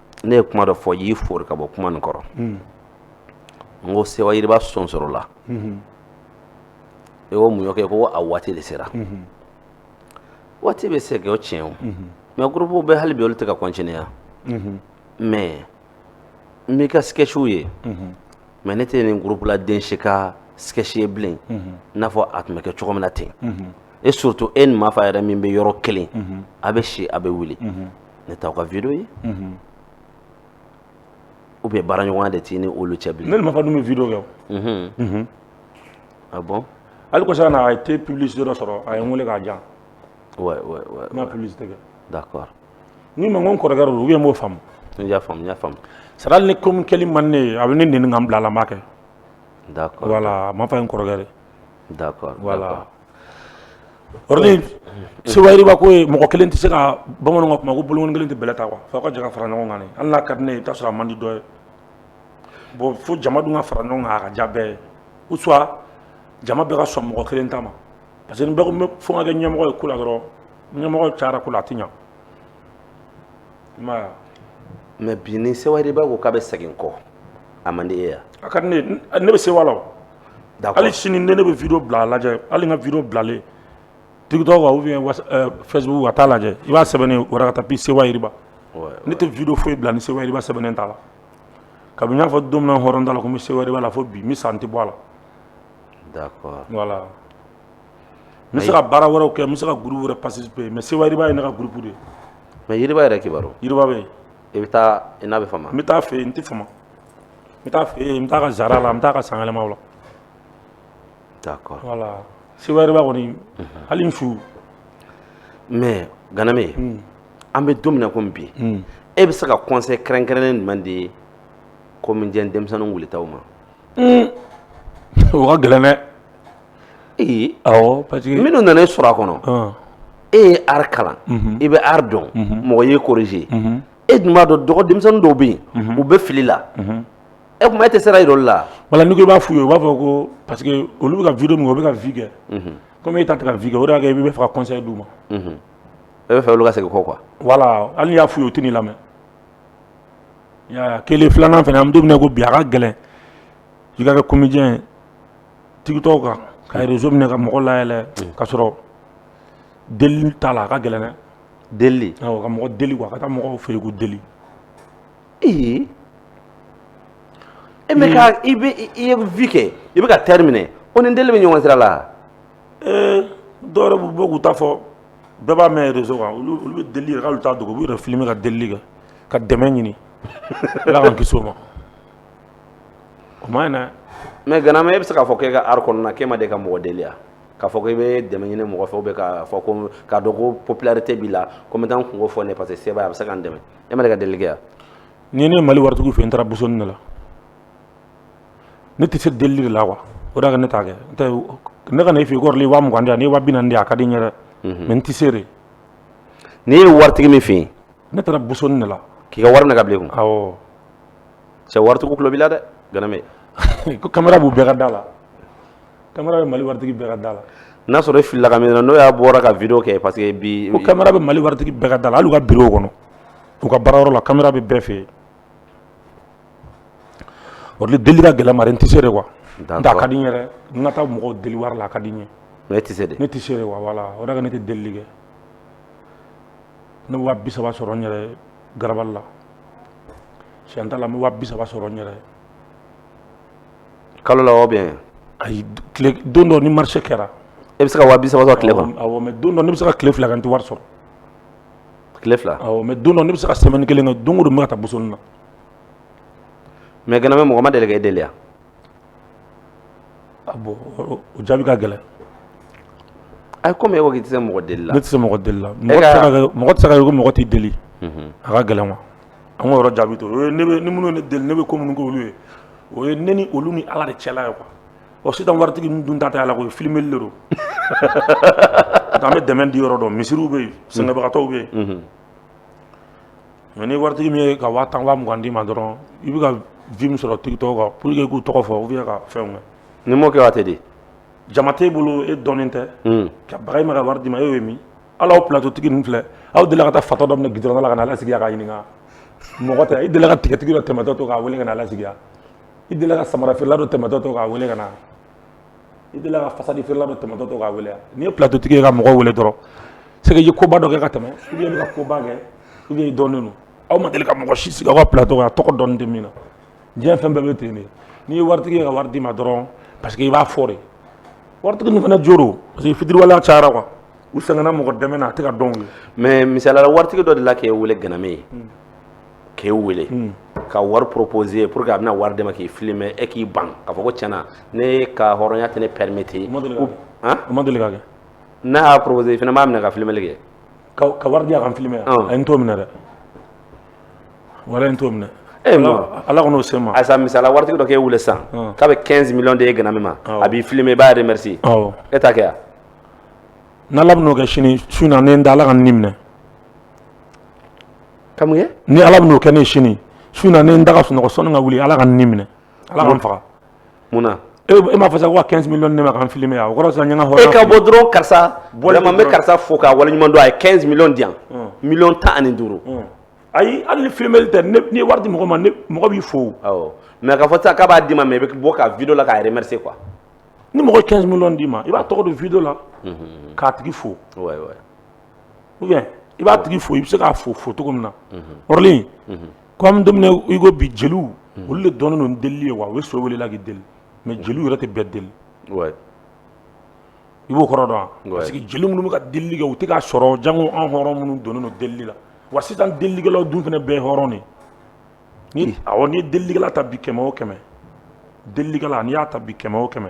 ne ye kuma dɔ fɔ i y'i fori ka bɔ kuma nin kɔrɔ n ko Sewa Yiriba sɔnsɔrɔla e ko mun y'o kɛ ko a waati de sera waati bɛ se kɛ o tiɲɛ o mais groupew bɛ hali bi olu tɛ ka continuer mais n b'i ka sketchiw ye mais ne tɛ nin groupe la den si ka sketch ye bilen i n'a fɔ a tun bɛ kɛ cogo min na ten et surtout e ni Mafa yɛrɛ min bɛ yɔrɔ kelen a bɛ si a bɛ wuli ne t'aw ka video ye ou bien baaraɲɔgɔnya de t'i ni olu cɛ bilen ne ni Mafa dun bɛ video kɛ o ah bon hali kɔsa na a
ye thé publicité dɔ sɔrɔ a ye n wele k'a di yan ouais
ouais ouais n ka
publicité kɛ
d'accord n k'i ma
ko n kɔrɔkɛ don ou bien i m'o faamu n y'a faamu n y'a
faamu c'est à dire hali
ni ko min kɛli man di ne ye a bɛ ne nɛni ka n bila a la n b'a kɛ d'accord
voilà Mafa ye n
kɔrɔkɛ de ye d'accord voilà Sewa Yiriba ko mɔgɔ kelen tɛ se ka bamananw ka kuma ko bolokɔni kelen tɛ bɛlɛ ta quoi f'aw ka jɛ ka fara ɲɔgɔn kan hali n'a ka di ne ye i bɛ t'a sɔrɔ a man di dɔ ye bon fo jama dun ka fara ɲɔgɔn kan a ka diya bɛɛ ye ou soit jama bɛɛ ka sɔn mɔgɔ kelen ta ma parce que ni bɛɛ ko fo n ka kɛ ɲɛmɔgɔ ye ko la dɔrɔn ɲɛmɔgɔ cayara ko la a tɛ ɲɛ mais
bi ni Sewa Yiriba ko k'a
bɛ
segin kɔ a man di e ye a
ka di ne bɛ Sewa la hali
sini ne ne bɛ
video bila a lajɛ hali n ka video bilalen TikTok kan ou bien Facebook kan taa a lajɛ i b'a sɛbɛnnen Warakata Sewa Yiriba ne tɛ video foyi bila ni Sewa Yiriba sɛbɛnnen t'a la kabini n y'a fɔ don min na hɔrɔn ta la ko n bɛ Sewa Yiriba la fo bi n bɛ sa n tɛ bɔ a la
voilà
n bɛ se ka baara wɛrɛw kɛ n bɛ se ka groupe wɛrɛ participer mais Sewayiriba ye ne ka groupe de ye mais Yiriba
yɛrɛ kibaru Yiriba bɛ yen
i bɛ taa
i n'a bɛ fama n bɛ taa a fɛ yen n tɛ fama
n bɛ taa a fɛ yen n bɛ taa a ka zara la n bɛ taa a ka sanyɛlɛmaw la d'accord
voilà
Sewayiriba kɔni hali n
su mais Ganame an bɛ don min na komi bi e bɛ se ka conseil kɛrɛnkɛrɛnnen jumɛn di comédien denmisɛnninw wulitaw ma
o ka gɛlɛn dɛ ee awɔ parce que minnu nana e sɔrɔ a kɔnɔ
ɔn e ye art kalan i bɛ art dɔn mɔgɔ y'i corriger e dun b'a dɔn dɔgɔ denmisɛnnin dɔw bɛ yen u bɛ fili la e kuma e tɛ sira yir'olu la wala n'i ko i b'a f'u ye u b'a
fɔ ko parce que olu bɛ ka video min kɛ u bɛ ka vue kɛ comme e ta tɛ ka vue kɛ o de y'a kɛ i bɛ fɛ ka conseil d'u
ma e bɛ fɛ olu ka segin kɔ quoi voilà hali n'i y'a f'u
ye u tɛn'i lamɛn i y'a ye a kelen filanan fana an bɛ don min na i ko bi a ka gɛlɛn i ka kɛ comédien ye TikTok kan ka réseau minɛ ka mɔgɔ layɛlɛ ka sɔrɔ deli t'a la a ka gɛlɛn dɛ
deli ka mɔgɔ deli
quoi ka taa mɔgɔw fɛ yen ko deli ee
e bɛ ka i bɛ i ye vue kɛ i bɛ ka teri minɛ o ni deli bɛ ɲɔgɔn sira la
ee dɔw yɛrɛ b'u bɔ k'u ta fɔ bɛɛ b'a mɛn réseau kan olu bɛ deli yɛrɛ k'olu t'a dogo u b'u yɛrɛ filmer ka deli kɛ ka dɛmɛ ɲini ala k'an kisi o ma O man ɲi mais Ganame e bɛ se
k'a fɔ k'e ka art kɔnɔna k'e ma deli ka mɔgɔ deli k'a fɔ i bɛ dɛmɛ ɲini mɔgɔ fɛ ou bien k'a fɔ ko k'a dɔn ko popularité b'i la ko n bɛ taa n kunko fɔ ne parce que se a bɛ se ka n dɛmɛ e ma deli ka deli yan ni ne ye Mali
waritigiw fɛ n taara bosonni de la ne tɛ se deli de la quoi o de ne t'a kɛ ne ka na f'i kɔrɔ i wa mugan di yan ni wa bi naani di a ka di n ye dɛ mais n tɛ se de n'i
ye waritigi min fɛ yen ne taara bosonni de
la k'i ka wari minɛ ka bila
cɛ waritigiw tulo b'i la dɛ Ganame. ko
kamera b'u bɛɛ ka da la kamera bɛ Mali waritigi bɛɛ ka da la. n'a sɔrɔ e filila ka min
na n'o y'a bɔra ka video kɛ parce que bi. ko kamera bɛ Mali waritigi
bɛɛ ka da la hali u ka bureau kɔnɔ u ka baarayɔrɔ la kamera bɛ bɛɛ fɛ yen o de deli ka gɛlɛn mari n tɛ se de quoi n tɛ a ka di n ye dɛ n ka taa mɔgɔw deli wari la a ka di n ye mais e tɛ se de ne tɛ
se de quoi voilà
o de ka ne tɛ delili kɛ ne bɛ wa bi saba sɔrɔ n yɛrɛ ye garabali la siyɛn t'a la n bɛ waa bi saba sɔrɔ n
yɛrɛ kalo la ou bien ayi tile
don dɔ ni marché kɛra e bɛ se ka waa bi
saba sɔrɔ tile kɔnɔ awɔ mais don dɔ ne bɛ se ka
tile fila kɛ n tɛ wari
sɔrɔ tile fila awɔ mais don dɔ ne bɛ se
ka semaine kelen kɛ don o don n bɛ ka taa bosonni na
mais Ganame mɔgɔ ma deli ka e deli yan
A bɔn o jaabi ka
gɛlɛn ayi kɔmi e ko k'i tɛ se mɔgɔ deli la ne tɛ se mɔgɔ deli la
mɔgɔ tɛ se ka kɛ ko mɔgɔ t'i deli a ka gɛlɛn an k'o yɔrɔ jaabi to yen ni minnu ye ne deli ne bɛ ko minnu k'olu ye o ye ne ni olu ni ala de cɛla ye quoi sisan waritigi ninnu dun ta tɛ ala ko ye filmeli de don an bɛ dɛmɛ di yɔrɔ dɔn misiriw bɛ yen sɛgɛnbagatɔw bɛ yen Mais ni waritigi min ye ka waa tan waa mugan d'i ma dɔrɔn i bɛ ka vues min sɔrɔ TikTok kan pour que k'u tɔgɔ fɔ ou bien ka fɛnw kɛ n'i m'o kɛ wari tɛ di
jama t'e bolo
e dɔnnen tɛ ka baga i ma ka wari d'i ma e y'o ye min hali aw plateau tigi ninnu filɛ aw deli ka taa fatɔ dɔ minɛ gudɔrɔnda la ka n'a lasigi k'a ɲininka mɔgɔ tɛ i deli ka tigatigi dɔ tɛmɛtɔ to k'a weele ka n'a lasigi i deli ka samarafeerela dɔ tɛmɛtɔ to k'a weele ka na i delila ka fasadi feerela dɔ tɛmɛtɔ to k'a wele wa n'i ye plateau tigi ye ka mɔgɔ wele dɔrɔn c'est que i ye koba dɔ kɛ ka tɛmɛ ou bien i bɛ ka koba kɛ ou bien i dɔnnen don aw ma deli ka mɔgɔ si sigi aw ka plateau kan a tɔgɔ dɔnnen tɛ min na diɲɛ fɛn bɛɛ bɛ ten de n'i ye waritigi ye ka wari d'i ma dɔrɔn parce que i b'a fɔ de waritigi ninnu fana jo don parce que fitiriwaleya cayara quoi u sɛgɛnna mɔgɔ dɛmɛ na a tɛ ka dɔn u ye mais misaliya
la waritigi dɔ delila k'e wele Ganame ye k'e wele hmm. ka wari proposer pour que a bɛna wari d'i ma k'i filmer e k'i ban k'a fɔ ko tiɲɛ na ne ka hɔrɔnya tɛ ne permettre o ma deli ka kɛ han o ma
deli ka kɛ n'a y'a proposer
i fana b'a minɛ ka filmeli kɛ ka ka wari di a ka n filmer
ayi n t'o minɛ dɛ walayi n t'o minɛ e ma ala kɔn o se ma ayisa misali la waritigi dɔ
k'e wele sisan k'a bɛ 15 millions d'e Ganame ma a b'i filmer i b'a remercier awɔ e t'a kɛ wa
n'ala bɛn'o kɛ sini su in na ne n da ala ka n ni minɛ
ni ala bɛn'o kɛ ne
sini su in na ne n da ka sunɔgɔ sanni n ka wuli ala ka n ni minɛ ala ka n faga munna
e m'a fɔ sa ko
ka 15 millions di ne ma ka n filmer o kɔrɔ n ye n ka hɔrɔnya e ka bɔ dɔrɔn karisa
bɔn n bɛ karisa fo k'a waleɲuman dɔn a ye 15 millions di yan miliyɔn tan ani duuru
ayi hali ni filmeli tɛ ni wari di mɔgɔ ma mɔgɔ b'i fo mais k'a
fɔ sa k'a b'a d'i ma mais i bɛ bɔ ka vidéo la k'a remercier quoi ni mɔgɔ
15 millions d'i ma i b'a tɔgɔ don vidéo la k'a tigi fo
ou
bien i b'a tigi fo i bɛ se k'a fo fo cogo min na Orly comme don min i ko bi jeliw olu de dɔnnen don delili ye wa u bɛ so wele i la k'i deli mais jeliw yɛrɛ tɛ bɛɛ deli i b'o kɔrɔ dɔn wa parce que jeli minnu bɛ ka delili kɛ u tɛ k'a sɔrɔ jango an hɔrɔn minnu donnen don delili la wa sisan delilikɛlaw dun fana bɛɛ ye hɔrɔn de ye ni awɔ n'i ye delilikɛla ta bi kɛmɛ o kɛmɛ delilikɛla n'i y'a ta bi kɛmɛ o kɛmɛ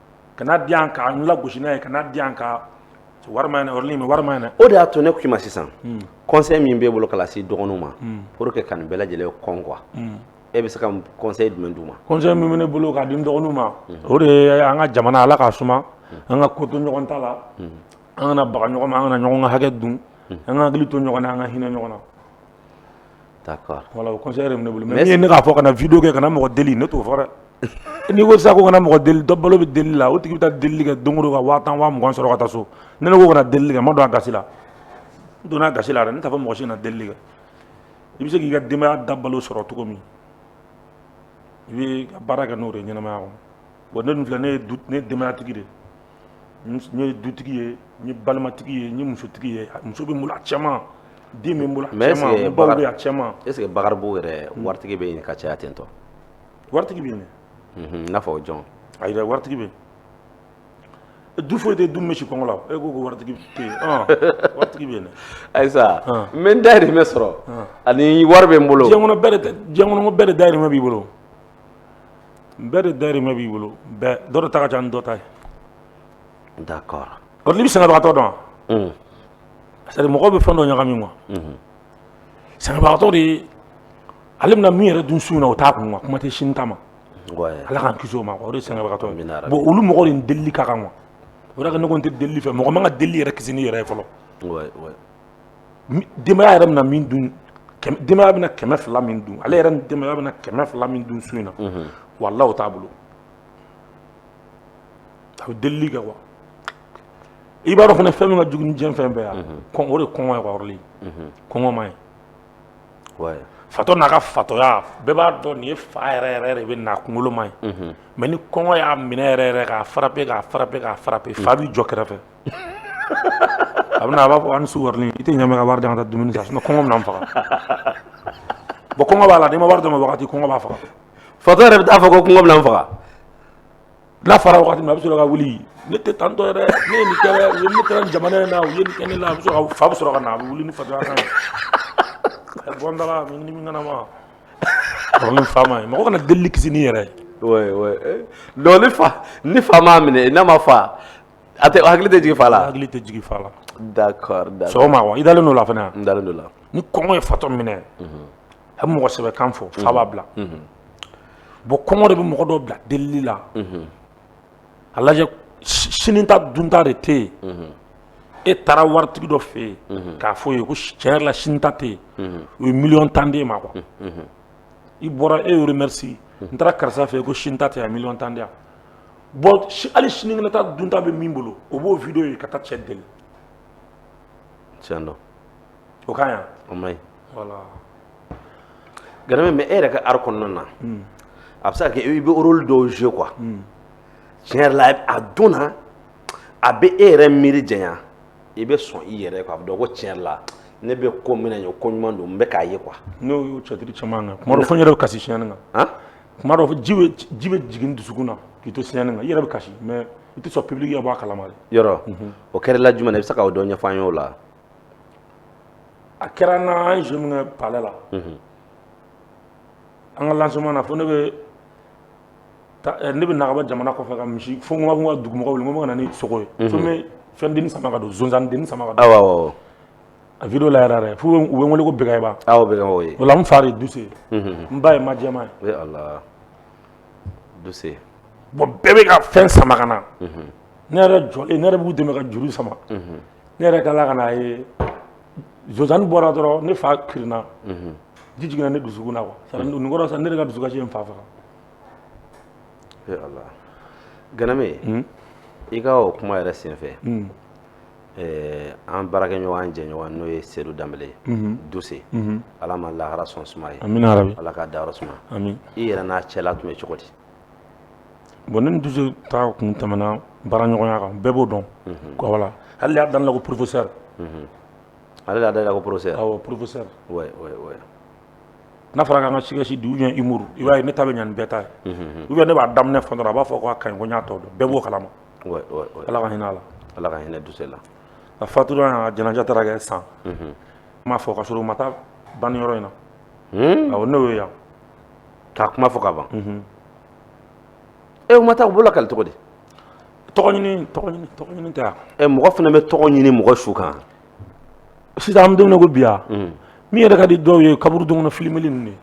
kana di yan ka n lagosi n'a ye kana di yan ka wari man ɲi dɛ Orly mais wari man ɲi dɛ o de y'a to ne k'i ma sisan
conseil min b'e bolo ka lase dɔgɔninw ma pour que ka nin bɛɛ lajɛlen kɔn quoi e bɛ se ka conseil jumɛn d'u ma conseil min bɛ ne bolo
k'a di n dɔgɔninw ma o de ye an ka jamana ala k'a suma an ka ko to ɲɔgɔn ta la an kana baga ɲɔgɔn ma an kana ɲɔgɔn ka hakɛ dun an ka hakili to ɲɔgɔn na an ka hinɛ ɲɔgɔn na
Voilà o conseil
yɛrɛ bɛ ne bolo mais min ye ne k'a fɔ kana vidéo kɛ kana mɔgɔ deli ne t'o fɔ dɛ n'i ko sisan ko kana mɔgɔ deli dɔ balo bɛ deli la o tigi bɛ taa deli kɛ don o don ka waa tan waa mugan sɔrɔ ka taa so ne ko kana deli kɛ n ma don a gasi la donna gasi la n t'a fɔ mɔgɔ si kana deli kɛ i bɛ se k'i ka denbaya dabalo sɔrɔ cogo min i bɛ baara kɛ n'o de ye ɲɛnamaya wa ne dun filɛ ne ye denbayatigi de ye dutigi ye n ye balimatigi ye n ye musotigi ye muso bɛ n bolo a caman den bɛ n bolo a caman est ce que Bakaribugu yɛrɛ
waritigi bɛ yen ka caya ten tɔ waritigi bɛ
yen i n'a fɔ
jɔn ayi dɛ
waritigi bɛ du foyi tɛ du min bɛ si kɔngɔ la e ko waritigi waritigi bɛ yen
ayisa n bɛ n dayirimɛ sɔrɔ ani wari bɛ n bolo
diɲɛ kɔnɔ bɛɛ de dayirimɛ b'i bolo bɛɛ de dayirimɛ b'i bolo bɛɛ dɔ de ta ka ca ni dɔ ta
ye d'accord Orly i bɛ
sɛgɛnbagatɔ dɔn wa c'est à dire mɔgɔw bɛ fɛn dɔ ɲagami quoi sɛgɛnbagatɔ de ye ale bɛna min yɛrɛ dun su in na o t'a kun quoi kuma tɛ sini ta ma ala k'an kisi o ma quoi o de ye sɛgɛnbagatɔ ye bon olu mɔgɔw de ni delili ka kan quoi o de la ne ko n tɛ delili fɛ mɔgɔ man ka delili yɛrɛ kisi n'i yɛrɛ ye fɔlɔ denbaya yɛrɛ bɛna min dun denbaya bɛna kɛmɛ fila min dun ale yɛrɛ ni denbaya bɛna kɛmɛ fila min dun su in na walahi o t'a bolo a bɛ delili kɛ quoi i b'a dɔn fana fɛn min ka jugu ni diɲɛ fɛn bɛɛ ye quoi o de kɔngɔ ye quoi Orly kɔngɔ man ɲi fatɔ n'a ka fatɔya bɛɛ b'a dɔn nin ye fa yɛrɛ yɛrɛ de bɛ n'a kunkolo man ɲi mais ni kɔngɔ y'a minɛ yɛrɛ yɛrɛ k'a frappe k'a frappe k'a frappe fa b'i jɔ kɛrɛfɛ a bɛna a b'a fɔ an su Orly i tɛ ɲɛ ka wari di n ka taa dumuni san sinon kɔngɔ bɛna n faga bon kɔngɔ b'a la n'i ma wari d'a ma wagati kɔngɔ b'a faga fatɔ yɛrɛ bɛ taa fɔ
ko kɔngɔ bɛna n faga
n'a fara wagati min a bɛ sɔrɔ ka wuli ne tɛ tantɔ yɛrɛ ne ye nin kɛ dɛ u ye ne kɛra nin jamana in na u ye nin kɛ ne la a bɛ sɔrɔ ka fa bɛ sɔrɔ ka na a bɛ wuli ni fatɔya kan ye a bɔ n da la ni min kana ma Orly fa ma ye mɔgɔ kana delili kisi ni yɛrɛ ye.
donc ni fa ni fa m'a minɛ n'a ma fa A tɛ hakili tɛ jigin fa la hakili tɛ jigin fa
la
d'accord sɔgɔma i
dalen don a la fana n dalen don a la
ni kɔngɔ ye
fatɔ minɛ a bɛ mɔgɔsɛbɛ kan fɔ fa b'a bila bon kɔngɔ de bɛ mɔgɔ dɔ bila deli la a lajɛ sini ta dunta de tɛ yen e taara waritigi dɔ fɛ yen k'a fɔ a ye ko tiɲɛ yɛrɛ la sini ta tɛ yen o ye million tan d'e ma quoi i bɔra e y'o remercier n taara karisa fɛ yen ko sini ta tɛ yen million tan di bon hali sini bɛ taa dunta bɛ min bolo o b'o video ye ka taa cɛ
deli tiɲɛ don o ka
ɲi o ma ɲi voilà
Ganame mais e yɛrɛ ka art kɔnɔna na hmm. a bɛ se ka kɛ i bɛ rôle dɔw jouer quoi hmm. tiɲɛ yɛrɛ la a don na a bɛ e yɛrɛ miiri janya i bɛ sɔn i yɛrɛ quoi a bɛ dɔn ko tiɲɛ yɛrɛ la ne bɛ ko min na nin ye ko ɲuman don n bɛ k'a ye quoi n'o y'o théâtre
caman kan tuma dɔ fo n yɛrɛ bɛ kasi scène kan tuma dɔ ji bɛ ji bɛ jigin dusukun na k'i to scène kan i yɛrɛ bɛ kasi mais i tɛ sɔn public ka bɔ a kalama dɛ. yɔrɔ o
kɛra e la jumɛn na i bɛ se ka o dɔ ɲɛfɔ an ye o la.
a kɛra n na an ye jeu min kɛ palais la. an ka lancement na fo ne bɛ taa ne bɛ na ka bɔ jamana kɔfɛ ka misi fo n ka n ka dugumɔgɔw wele n ko n bɛ ka na ni sogo ye. fo n bɛ fɛn denni sama ka don zonzanni denni sama ka don. awɔ awɔ.
A
video la yɛrɛ yɛrɛ f'u bɛ u bɛ n wele ko Bɛkɛba
awɔ
Bɛkɛba oui o la n fa de ye Duse ye
unhun n
ba ye Majɛma ye
ee Ala Duse bon
bɛɛ bɛ ka fɛn sama ka na unhun ne yɛrɛ jɔlen ne yɛrɛ b'u dɛmɛ ka juru sama unhun ne yɛrɛ tilala ka n'a ye Zozani bɔra dɔrɔn ne fa kirinna unhun ji jiginna ne dusukun na quoi c'est à dire nin kɔrɔ sisan ne yɛrɛ ka dusukasi ye n fa faga ee
Ala Ganame i ka o kuma yɛrɛ senfɛ ɛɛ an baarakɛɲɔgɔn an jɛɲɔgɔn n'o ye Sedu Danbele ye, unhun, Duse, unhun, Ala ma lahara sɔn suma ye, amina yarabi, Ala k'a dayɔrɔ
suma, amin,
i yɛrɛ n'a
cɛla
tun bɛ cogo di?
bon ne ni Duse ta kun tɛmɛna baaraɲɔgɔnya kan bɛɛ b'o dɔn, unhun, voilà ale y'a da ne la ko professeur
unhun, ale de y'a da i la ko professeur, awɔ
professeur, oui
oui oui
n'a fɔra k'an ka sketch di ou bien humour i b'a ye ne ta bɛ ɲɛ ni bɛɛ ta ye, unhun, ou bien ne b'a daminɛ fɔ dɔrɔn a b'a fɔ k'a ka ɲi ko n y'a tɔ dɔn bɛɛ b'o kalama
ala ka hinɛ a
la ala ka hinɛ Duse
la a
fatura a janaja taara kɛ san n m'a fɔ ka sɔrɔ u ma taa banni yɔrɔ in na awɔ ne y'o ye yan k'a kuma
fɔ ka ban u ma taa u bolo kali tɔgɔ di
tɔgɔ ɲini tɛ yan mɔgɔ fana bɛ tɔgɔ
ɲini mɔgɔ su kan
sisan an bɛ don min na ko bi ya min yɛrɛ ka di dɔw ye kaburudo kɔnɔ filimeli ninnu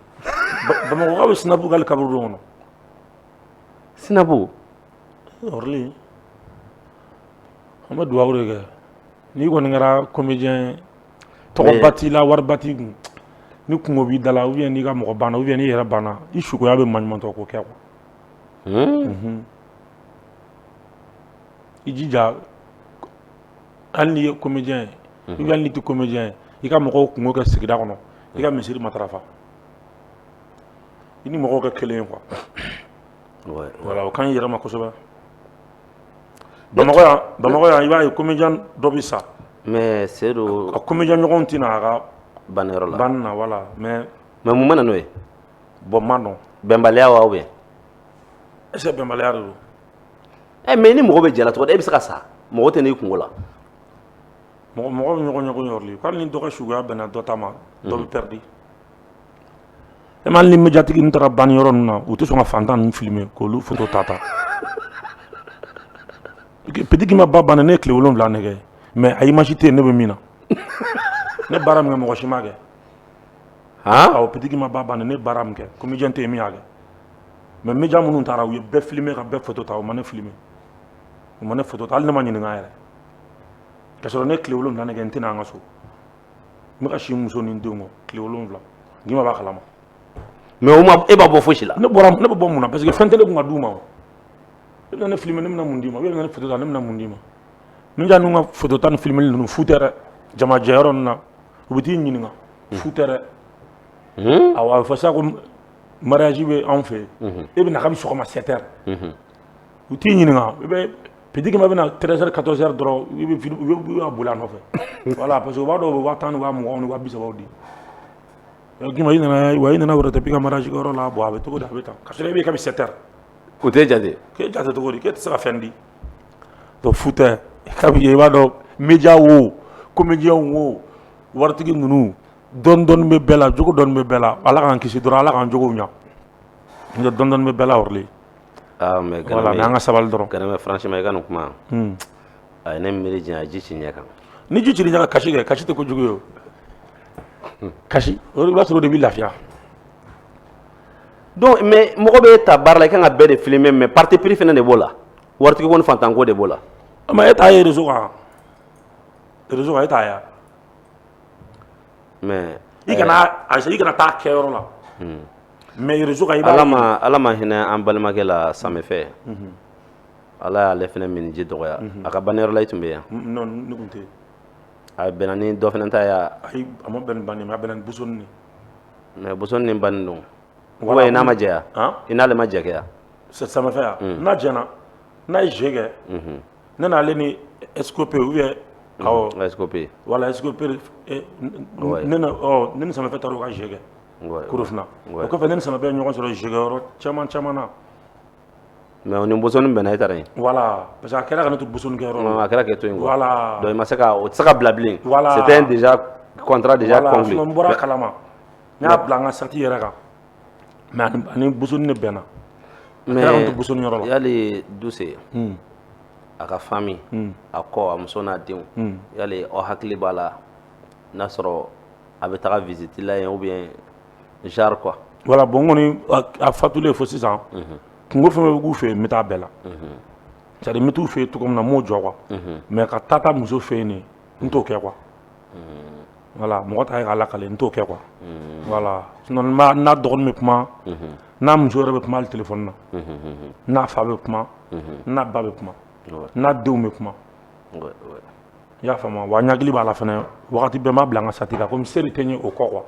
Bamakɔkaw bɛ snap kɛ la kaburudo kɔnɔ
snap
Ɔrɔnli an bɛ dugawu de kɛ n'i kɔni kɛra comédien tɔgɔba t'i la wariba t'i kun ni kungo b'i da la ou bien n'i ka mɔgɔ banna ou bien n'i yɛrɛ banna i sukoya bɛ manɲumatɔ ko kɛ i jija hali i ye comédien ye ou bien i tɛ comédien ye i ka mɔgɔw kungo kɛ sigida kɔnɔ i ka misiri matarafa i ni mɔgɔw kɛ kelen ye quoi ka ɲi i yɛrɛ ma kosɛbɛ Bamakɔ yan i b'a ye comédien dɔ bɛ sa mais
Seyidu a comédien ɲɔgɔnw tɛ
na a ka banniyɔrɔ la
banni na voilà
mais mun bɛ na n'o ye
bon n m'a
dɔn bɛnbaliya wa ou bien est-ce que bɛnbaliya don ɛ
mais ni mɔgɔ bɛ jɛ la cogo e bɛ se ka sa mɔgɔ tɛ n'i kungo la
mɔgɔ bɛ ɲɔgɔn ɲɔgɔn yɔrɔ hali ni dɔ ka suguya bɛnna dɔ ta ma dɔ bɛ pɛridi e ma hali ni mediatigi ninnu taara banniyɔrɔ ninnu na u tɛ sɔn ka fantan ninnu filime k'olu foto ta Petit Guimba ba banna ne ye tile wolonwula de kɛ mais a image tɛ yen ne bɛ min na ne baara min kɛ mɔgɔ si m'a kɛ awɔ Petit Guimba ba banna ne baara min kɛ comédien tɛ yen min y'a kɛ mais media minnu taara u ye bɛɛ filime ka bɛɛ foto ta u ma ne filime u ma ne foto ta hali ne ma ɲininka yɛrɛ ka sɔrɔ ne tile wolonwula de kɛ n tɛ na an ka so n bɛ ka si n muso ni n denw kɔ tile wolonwula Guimba b'a kalama mais o
ma e b'a bɔ fosi la ne b'a bɔ mun na parce
que fɛn tɛ ne kun ka d'u ma o e bɛna ne filime ne bɛna mun d'i ma e bɛna ne foto ta ne bɛna mun d'i ma media ninnu ka foto ta ni filimeli ninnu fu tɛ dɛ jama jɛyɔrɔ ninnu na u bɛ t'i ɲininka fu tɛ dɛ awɔ a bɛ fɔ sa ko mariage bɛ anw fɛ yen e bɛ na kabi sɔgɔma 7 heures u t'i ɲininka i bɛ Petit Guimba bɛna treize heures quatorze heures dɔrɔn i bɛ boli a nɔfɛ voilà parce que u b'a dɔn u bɛ waa tan ni waa mugan ni waa bi sabaw di Guimba i nana wa i nana wɛrɛ tɛ k'i ka mariage kɛyɔrɔ la bon a bɛ cogo di a bɛ tan ka sɔrɔ e bɛ kabi sept heures o tɛ
jate k'e jate cogo di k'e
tɛ se ka fɛn di donc fu tɛ kabi i b'a dɔn media wo comédien wo waritigi ninnu dɔɔni dɔɔni bɛ bɛɛ la jogo dɔɔni bɛ bɛɛ la Ala k'an kisi dɔrɔn Ala k'an jogow ɲa n'o tɛ dɔɔni dɔɔni bɛ bɛɛ la yɔrɔli Aa mais
Gana bɛ ye voilà an ka
sabali dɔrɔn Ganame franchement i ka nin
kuma un a ye ne miiri janya a ye ji ci n ɲɛ kan ni ji cir'i ɲɛ kan
kasi kɛ kasi tɛ ko jugu ye o kasi o de i b'a sɔrɔ o de b'i lafiya
donc mais mɔgɔ bɛ taa baara la i ka kan ka bɛɛ de filmer mais parti pris fana de b'o la waritigi ko ni fantan ko de b'o la mais e t'a ye
réseau kan réseau kan e t'a ye a
mais i kana
a i kana taa kɛyɔrɔ la Mais réseau kan i b'a Ala maa Ala ma hinɛ
an balimakɛ la Same fɛ unhun Ala y'ale fɛnɛ minji dɔgɔya unhun a ka banniyɔrɔ la i tun bɛ yen a un non ne tun tɛ
yen a bɛnna
ni dɔ fɛnɛ ta ye a ayi a ma bɛn ni
banni mais a bɛnna ni Boussone de ye mais Boussone
ni banni don ou bien i n'a ma jɛ a an i n'ale ma jɛ kɛ a sa Same fɛ a
un n'a jɛna n'a ye jɛ kɛ unhun ne n'ale ni Escope ou bien awɔ Escope voilà
Escope e n
n ne na ɔɔ ne ni Same fɛ taar'u ka jɛ kɛ Korofina o kɔfɛ ne ni Samake ye ɲɔgɔn sɔrɔ jouer kɛ yɔrɔ caman caman
na mais o ni Bosoni bɛnna e taara yen voilà parce que a kɛra ka
ne to Bosoni kɛ yɔrɔ la a kɛra k'e to yen quoi
voilà donc i ma se ka
o tɛ se ka
bila bilen voilà c'était un déjà contrat déjà conclu voilà sinon n bɔra a kalama
n y'a bila n ka sati yɛrɛ kan mais a ni a ni Bosoni de bɛnna a kɛra ka ne to Bosoni yɔrɔ la mais yali
Duse a ka famille a kɔ a muso n'a denw yali aw hakili b'a la n'a sɔrɔ a bɛ taa visite la yen ou bien genre quoi
voilà bon
kɔni
a
fatulen
fo sisan kunko fɛn bɛ k'u fɛ yen n bɛ taa bɛɛ la c'est-à-dire n bɛ t'u fɛ yen cogo min na n b'o jɔ quoi mais ka taa taa muso fɛ yen n t'o kɛ quoi voilà mɔgɔ ta ye k'a lakali n t'o kɛ quoi voilà sinon n'a dɔgɔnin bɛ kuma n'a muso yɛrɛ bɛ kuma hali téléphone na n'a fa bɛ kuma n'a ba bɛ kuma n'a denw bɛ kuma i y'a faamu wa n hakili b'a la fana wagati bɛɛ n b'a bila n ka sati la komi se wɛrɛ tɛ n ye o kɔ quoi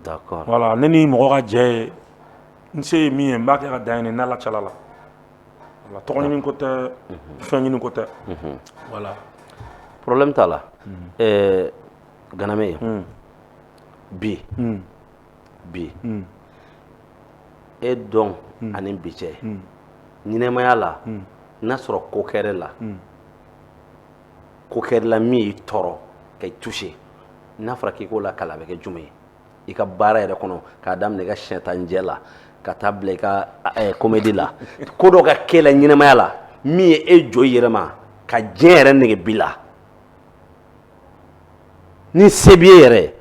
d'accord
voilà ne ni mɔgɔ
ka jɛ ye n se ye min ye n b'a kɛ ka dan ne ni Ala cɛla la voilà tɔgɔ ɲini ko tɛ fɛn ɲini ko tɛ voilà
problème t'a la ɛɛ Ganame bi bi e dɔn ani bi cɛ ɲɛnɛmaya la n'a sɔrɔ ko kɛr'i la ko kɛr'i la min y'i tɔɔrɔ k'i toucher n'a fɔra k'i k'o lakali a bɛ kɛ jumɛn ye i ka baara yɛrɛ kɔnɔ k'a daminɛ i ka sɛ tan jɛ la ka taa bila i ka comédie la ko dɔ ka k'i la ɲɛnɛmaya la min ye e jɔ i yɛrɛ ma ka diɲɛ yɛrɛ nege b'i la ni se b'i ye yɛrɛ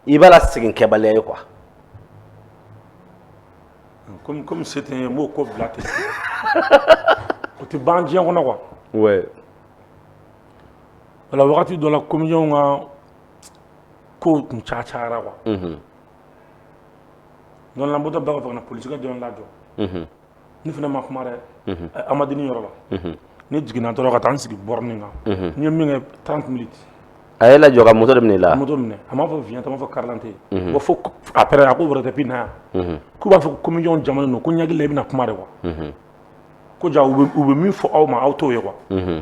i b'a la segin kɛbaliya ye
quoi comme comme se tɛ n ye n b'o ko bila ten o tɛ ban diɲɛ kɔnɔ quoi ouais voilà wagati dɔ la comédiens ka kow tun caya cayara quoi donc là n bɔtɔ bɛɛ ka fɔ ka na polisikɛ dɔ ye n lajɔ ne fana ma kuma dɛ Amandine yɔrɔ la ne jiginna dɔrɔn ka taa n sigi borne kan n ye min kɛ trente minutes a y'i lajɔ ka
moto de minɛ i la moto minɛ a m'a fɔ vignette a
m'a fɔ karidante ko fo après a ko wɛrɛ tɛ bi na yan k'u b'a fɔ ko comédiens jamanen don ko n hakili la i bɛna kuma de quoi ko ja u bɛ min fɔ aw ma aw t'o ye wa ne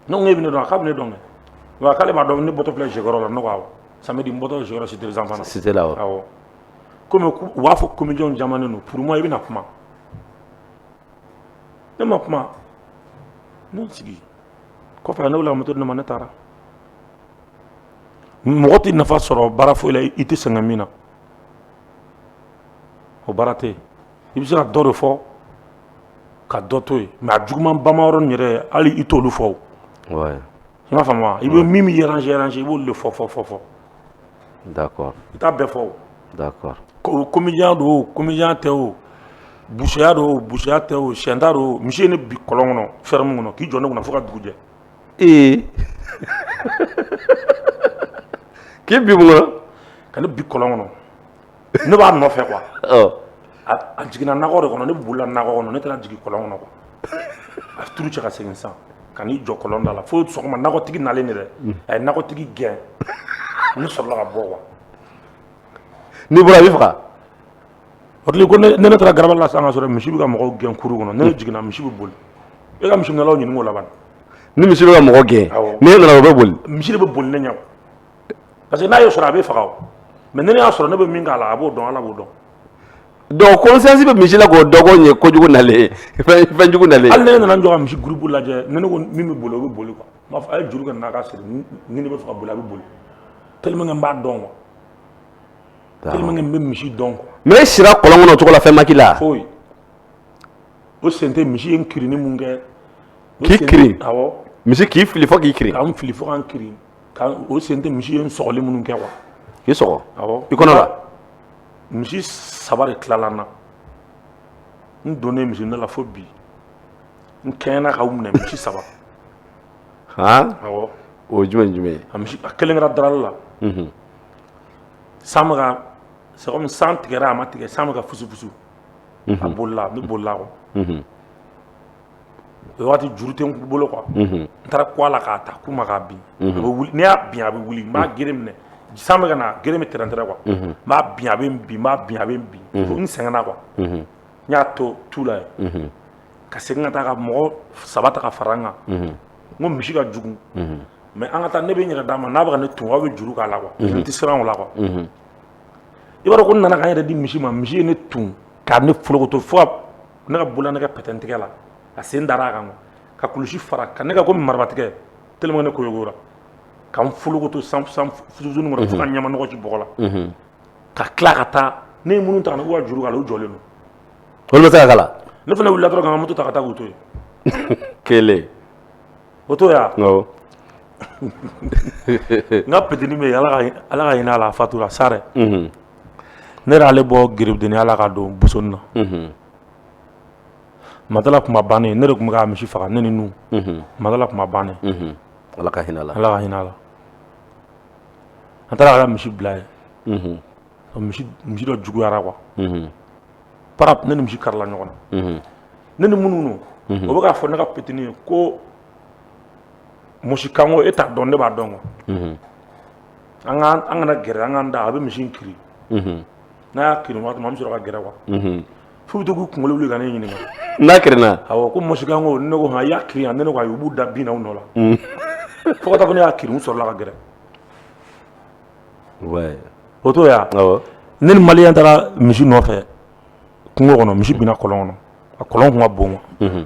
ko e bɛ ne dɔn k'a bɛ ne dɔn k'ale b'a dɔn ne bɔtɔ filɛ jouer kɛ yɔrɔ la ne ko awɔ samedi n bɔtɔ Cité des enfants cité la kɔmi u b'a fɔ comédiens jamanen don pour moi i bɛna kuma ne ma kuma ne sigi kɔfɛ ne wulila moto di ne ma ne taara mɔgɔ tɛ nafa sɔrɔ baara foyi la i tɛ sɛgɛn min na o baara tɛ yen i bɛ se ka dɔ de fɔ ka dɔ to yen mais a juguman bamayɔrɔ yɛrɛ hali i t'olu fɔ
I b'a faamuya
i bɛ min bɛ yɛlɛ i b'o de fɔ fɔ fɔ fɔ da
i taa bɛɛ fɔ
da ko
komi don
komi tɛ o buya don buya tɛ o sɛda don misi ye ni bi kɔlɔn kɔnɔ fɛrɛɛrɛ min kɔnɔ k'i jɔn ne kɔnɔ fo ka dugu jɛ ee
k'i bi ka bi kɔlɔn
kɔnɔ ne b'a nɔfɛ quoi ɔ a jiginna nakɔ de kɔnɔ ne bolila nakɔ kɔnɔ ne taara jigin kɔlɔn kɔnɔ quoi a turu cɛ ka segin sisan ka n'i jɔ kɔlɔn da la fo sɔgɔma nakɔtigi nalen de dɛ a ye nakɔtigi gɛn ne sɔrɔla ka bɔ
quoi n'i bɔra a b'i
faga a kɛlen kɔ ne ne taara garabali la sisan ka sɔrɔ misi bɛ ka mɔgɔw gɛn kuru kɔnɔ ne jiginna misi bɛ boli e ka misi minɛlaw ɲininka o la ban ni misi bɛ ka mɔgɔ
gɛn Awɔ. ni ne nana o bɛ boli misi de bɛ boli ne ɲɛ quoi.
parce que n'a y'o sɔrɔ a bɛ faga o mais ni ne y'a sɔrɔ ne bɛ min k'a la a b'o dɔn ala b'o dɔn
donc conscience bɛ misi la k'o dɔgɔn ye kojugu nalen fɛn fɛn jugu nalen hali ne nana n jɔ ka misi groupe
lajɛ ni ne ko min bɛ boli o bɛ boli quoi n b'a fɔ a ye juru kɛ n'a ka siri ni ni ne bɛ fɛ ka boli a bɛ boli tellement que n b'a dɔn quoi tellement que n bɛ misi dɔn quoi mais e sira kɔlɔn kɔnɔ
o cogo la fɛn ma k'i la
foyi o sen tɛ misi ye n kirinni min kɛ o K'i kirin?
awɔ misi k'i
fili fo
k'i kirin ka n fili fo ka n kirin
ka o sen tɛ misi ye n sɔgɔli minnu kɛ quoi k'i
sɔgɔ i kɔnɔ la
misi saba de tilala n na n donnen misi ne la fo bi n kɛɲɛna k'u minɛ misi saba awɔ o jumɛn
jumɛn a misi a kelen kɛra
darali la san bɛ ka c'est comme san tigɛra a ma tigɛ san bɛ ka fusufusu a bolila ne bolila quoi o waati juru tɛ n bolo quoi unhun, n taara kun a la k'a ta k'u ma k'a bin, unhun, a bɛ wili n'i y'a bin a bɛ wili n b'a gere minɛ san bɛ ka na gere bɛ tɛrɛn tɛrɛn quoi unhun, n b'a bin a bɛ n bin n b'a bin a bɛ n bin fo n sɛgɛnna quoi unhun, n y'a to tu la yen unhun, ka segin ka taa ka mɔgɔ saba ta ka fara n kan unhun, n ko misi ka jugu unhun, mais an ka taa ne bɛ n yɛrɛ d'a ma n'a bɛ ka ne tun aw bɛ juru k'a la quoi n tɛ siran o la quoi unhun, i b'a dɔn ko n nana ka n yɛrɛ di misi ma misi ye ne tun ka ne folokoto fo ka ne ka bolola ne ka pɛtɛntigɛ la a sen dara a kan ka kulusi fara ka ne ka komi marabatigɛ tellement ne koyogora ka n folokoto san fusuni kɔnɔ fo ka ɲama nɔgɔ ci bɔgɔ la ka tila ka taa ne ye minnu ta k'u ka juru k'a la u jɔlen don olu ma se
ka k'a la ne fana wulila dɔrɔn
ka moto ta ka taa k'u to yen
kelen o to
yan n ka petini bɛ yen ala ka hinɛ a la a fatura sa dɛ ne y'ale bɔ garibudenya la ka don buson na matala kuma ban ne tun bɛ misi faga ne ni matala kuma ban ala ka hinɛ
ala ka hinɛ a la
an taara ka misi bila ye misi dɔ juguyara quoi pa ne ni misi karila ɲɔgɔn na ne ni minnu o bɛ k'a fɔ ne ka petini ye ko musikanko e t'a dɔn ne b'a dɔn quoi an ka an kana gɛrɛ an k'an da a bɛ misi in kiri n'a y'a kiri waati min an bɛ sɔrɔ ka gɛrɛ quoi f'u bɛ to k'u kunkolo wuli ka ne ɲininka n'a kirinna
awɔ ko musikanko
ne ko han i y'a kiri yan ne ko ayi u b'u da bin na u nɔ la fo ka taa fɔ ne y'a kiri n sɔrɔla ka gɛrɛ ouais o t'o ye wa awɔ ne ni maliyɛn taara misi nɔfɛ kungo kɔnɔ misi binna kɔlɔn kɔnɔ a kɔlɔn tun ka bon quoi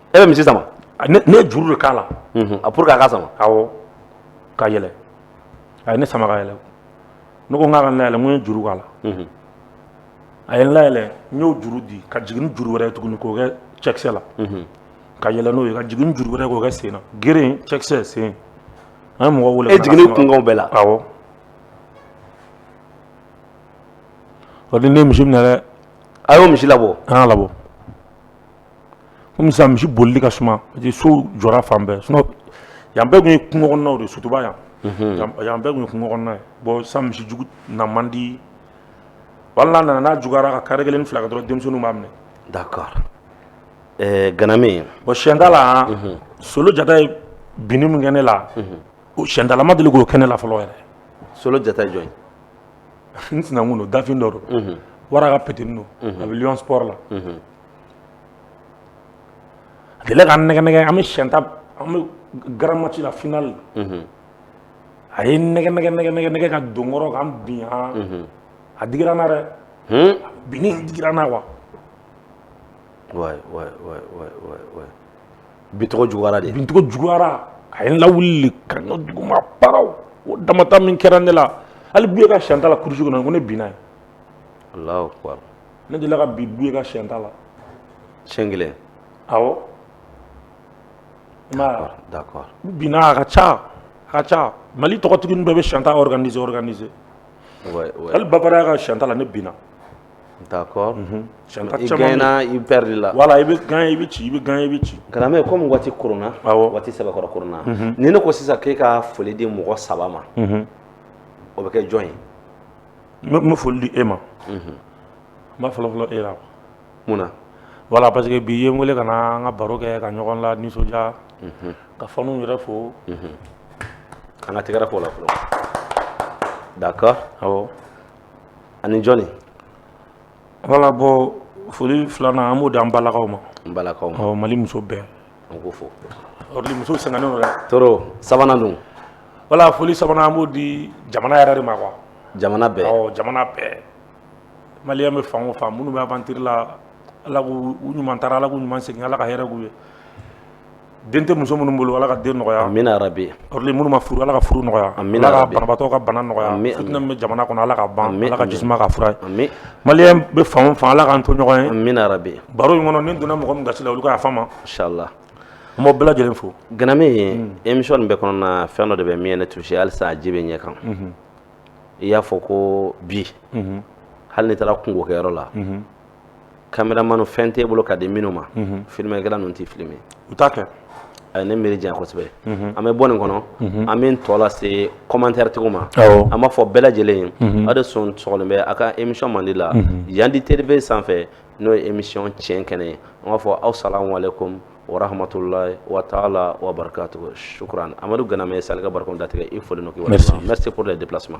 e bɛ misi
sama ne ye juru de
k'a la a pour que a ka
sama
awɔ ka yɛlɛ a ye ne sama ka yɛlɛ ne ko n k'a ka n layɛlɛ n ko n ye juru k'a la a ye n layɛlɛ n y'o juru di ka jigin ni juru wɛrɛ ye tuguni k'o kɛ cɛkisɛ la ka yɛlɛ n'o ye ka jigin ni juru wɛrɛ k'o kɛ sen na gere cɛkisɛ sen an ye mɔgɔ wele e jiginni kunkanw
bɛɛ la
awɔ o de ne ye misi minɛ dɛ a y'o misi labɔ
an y'a labɔ
kɔmi sisan misi bolili ka suma parce que so jɔra fan bɛɛ sinon yan bɛɛ tun ye kungo kɔnɔnaw de ye sotuba yan yan bɛɛ tun ye kungo kɔnɔna ye bon sisan misi jugu na man di hali n'a nana n'a juguyara ka kare kelen ni fila kɛ dɔrɔn denmisɛnninw b'a minɛ d'accord
ɛɛ ganame bon siyɛntala
solo jata ye binni min kɛ ne la o siyɛntala ma deli k'o kɛ ne la fɔlɔ yɛrɛ solo jata ye jɔn
ye n sinankun don dafin
dɔ don wara ka petini don a bɛ lion sport la A delila ka n nɛgɛ nɛgɛ an bɛ siyɛn ta an bɛ grand match la finale a ye nɛgɛ nɛgɛ nɛgɛ nɛgɛ nɛgɛ ka don n kɔrɔ ka n bin a digira n na dɛ binni digira n na
quoi bincogo juguyara de bincogo
juguyara a ye n lawuli ka duguma paraw o damata min kɛra ne la hali buye ka siyɛnta la kurusi kɔnɔ ko ne binna yen
ne delila ka
bin buye ka siyɛn ta la siɲɛ
kelen
awɔ i
m'a ye wa? d'accord binna a ka ca
a ka ca mali tɔgɔtigi ninnu bɛɛ bɛ siyɛn ta organiser organiser ouais ouais hali babaraya ka siyɛn ta la ne binna
d'accord siyɛn
ta i caman bɛ yen. gagner
i
pɛridila
voilà i bɛ gagner i bɛ
ci i bɛ gagner i bɛ ci karamɔgɔ kɔmi
waati koronna Awɔ. waati sɛbɛkɔrɔ
koronna
ni ne ko sisan k'e ka foli di mɔgɔ saba ma o bɛ kɛ jɔn ye n bɛ
foli di e ma n b'a fɔlɔ fɔlɔ e la quoi. mun na
voilà parce que
bi i ye n wele ka na an ka baro kɛ ka ɲɔgɔn la nisɔndiya ka faniw yɛrɛ fo
an ka tɛgɛrɛ fɔ o la fɔlɔ d'accord awɔ
ani
jɔni
voilà bon foli filanan an b'o di an balakaw ma n balakaw ma awɔ mali
muso bɛɛ
an k'u
fo musow
sɛgɛnnen don dɛ tɔɔrɔ sabanan
dun voilà foli
sabanan n b'o di jamana yɛrɛ de ma quoi jamana bɛɛ
awɔ jamana bɛɛ
malien bɛ fan o fan minnu bɛ aventure la ala k'u ɲuman taara ala k'u ɲuman segin ala ka hɛrɛ k'u ye den tɛ muso minnu bolo ala ka den nɔgɔya amiina yarabi
minnu ma furu
ala ka furu nɔgɔya ala ka banabaatɔ
ka bana nɔgɔya
fitinɛ min bɛ
jamana kɔnɔ
ala ka ban ala ka jisuma k'a fura ye
malien bɛ fan
o fan ala k'an to ɲɔgɔn ye amiina yarabi
baro in kɔnɔ ni n donna
mɔgɔ min gasi la olu ka yafa n ma
inchallah an b'aw
bɛɛ lajɛlen fo ganame ye
émission nin bɛɛ kɔnɔna fɛn dɔ de bɛ min ye ne touché halisa a ji bɛ ɲɛ kan i y'a fɔ ko bi hali ni i taara kunko kɛyɔrɔ la caméraman fɛn t'e bolo ka di minnu ma filmɛkɛla ninnu t'i filmer u t'a
kɛ a ye ne miiri janya
kosɛbɛ an bɛ bɔ nin kɔnɔ an bɛ tɔ lase commentairetigiw ma an b'a fɔ bɛɛ lajɛlen
ye
aw de sɔn bɛ aw ka émission mandi la yandi tv sanfɛ n'o ye émission tiɲɛ kɛnɛ ye an b'a fɔ assalamu aleykum wa rahmatullahi wa taala wa barakatuhu shukran amadu ganame ye sali ka barika datigɛ i fo merci pour le déplacement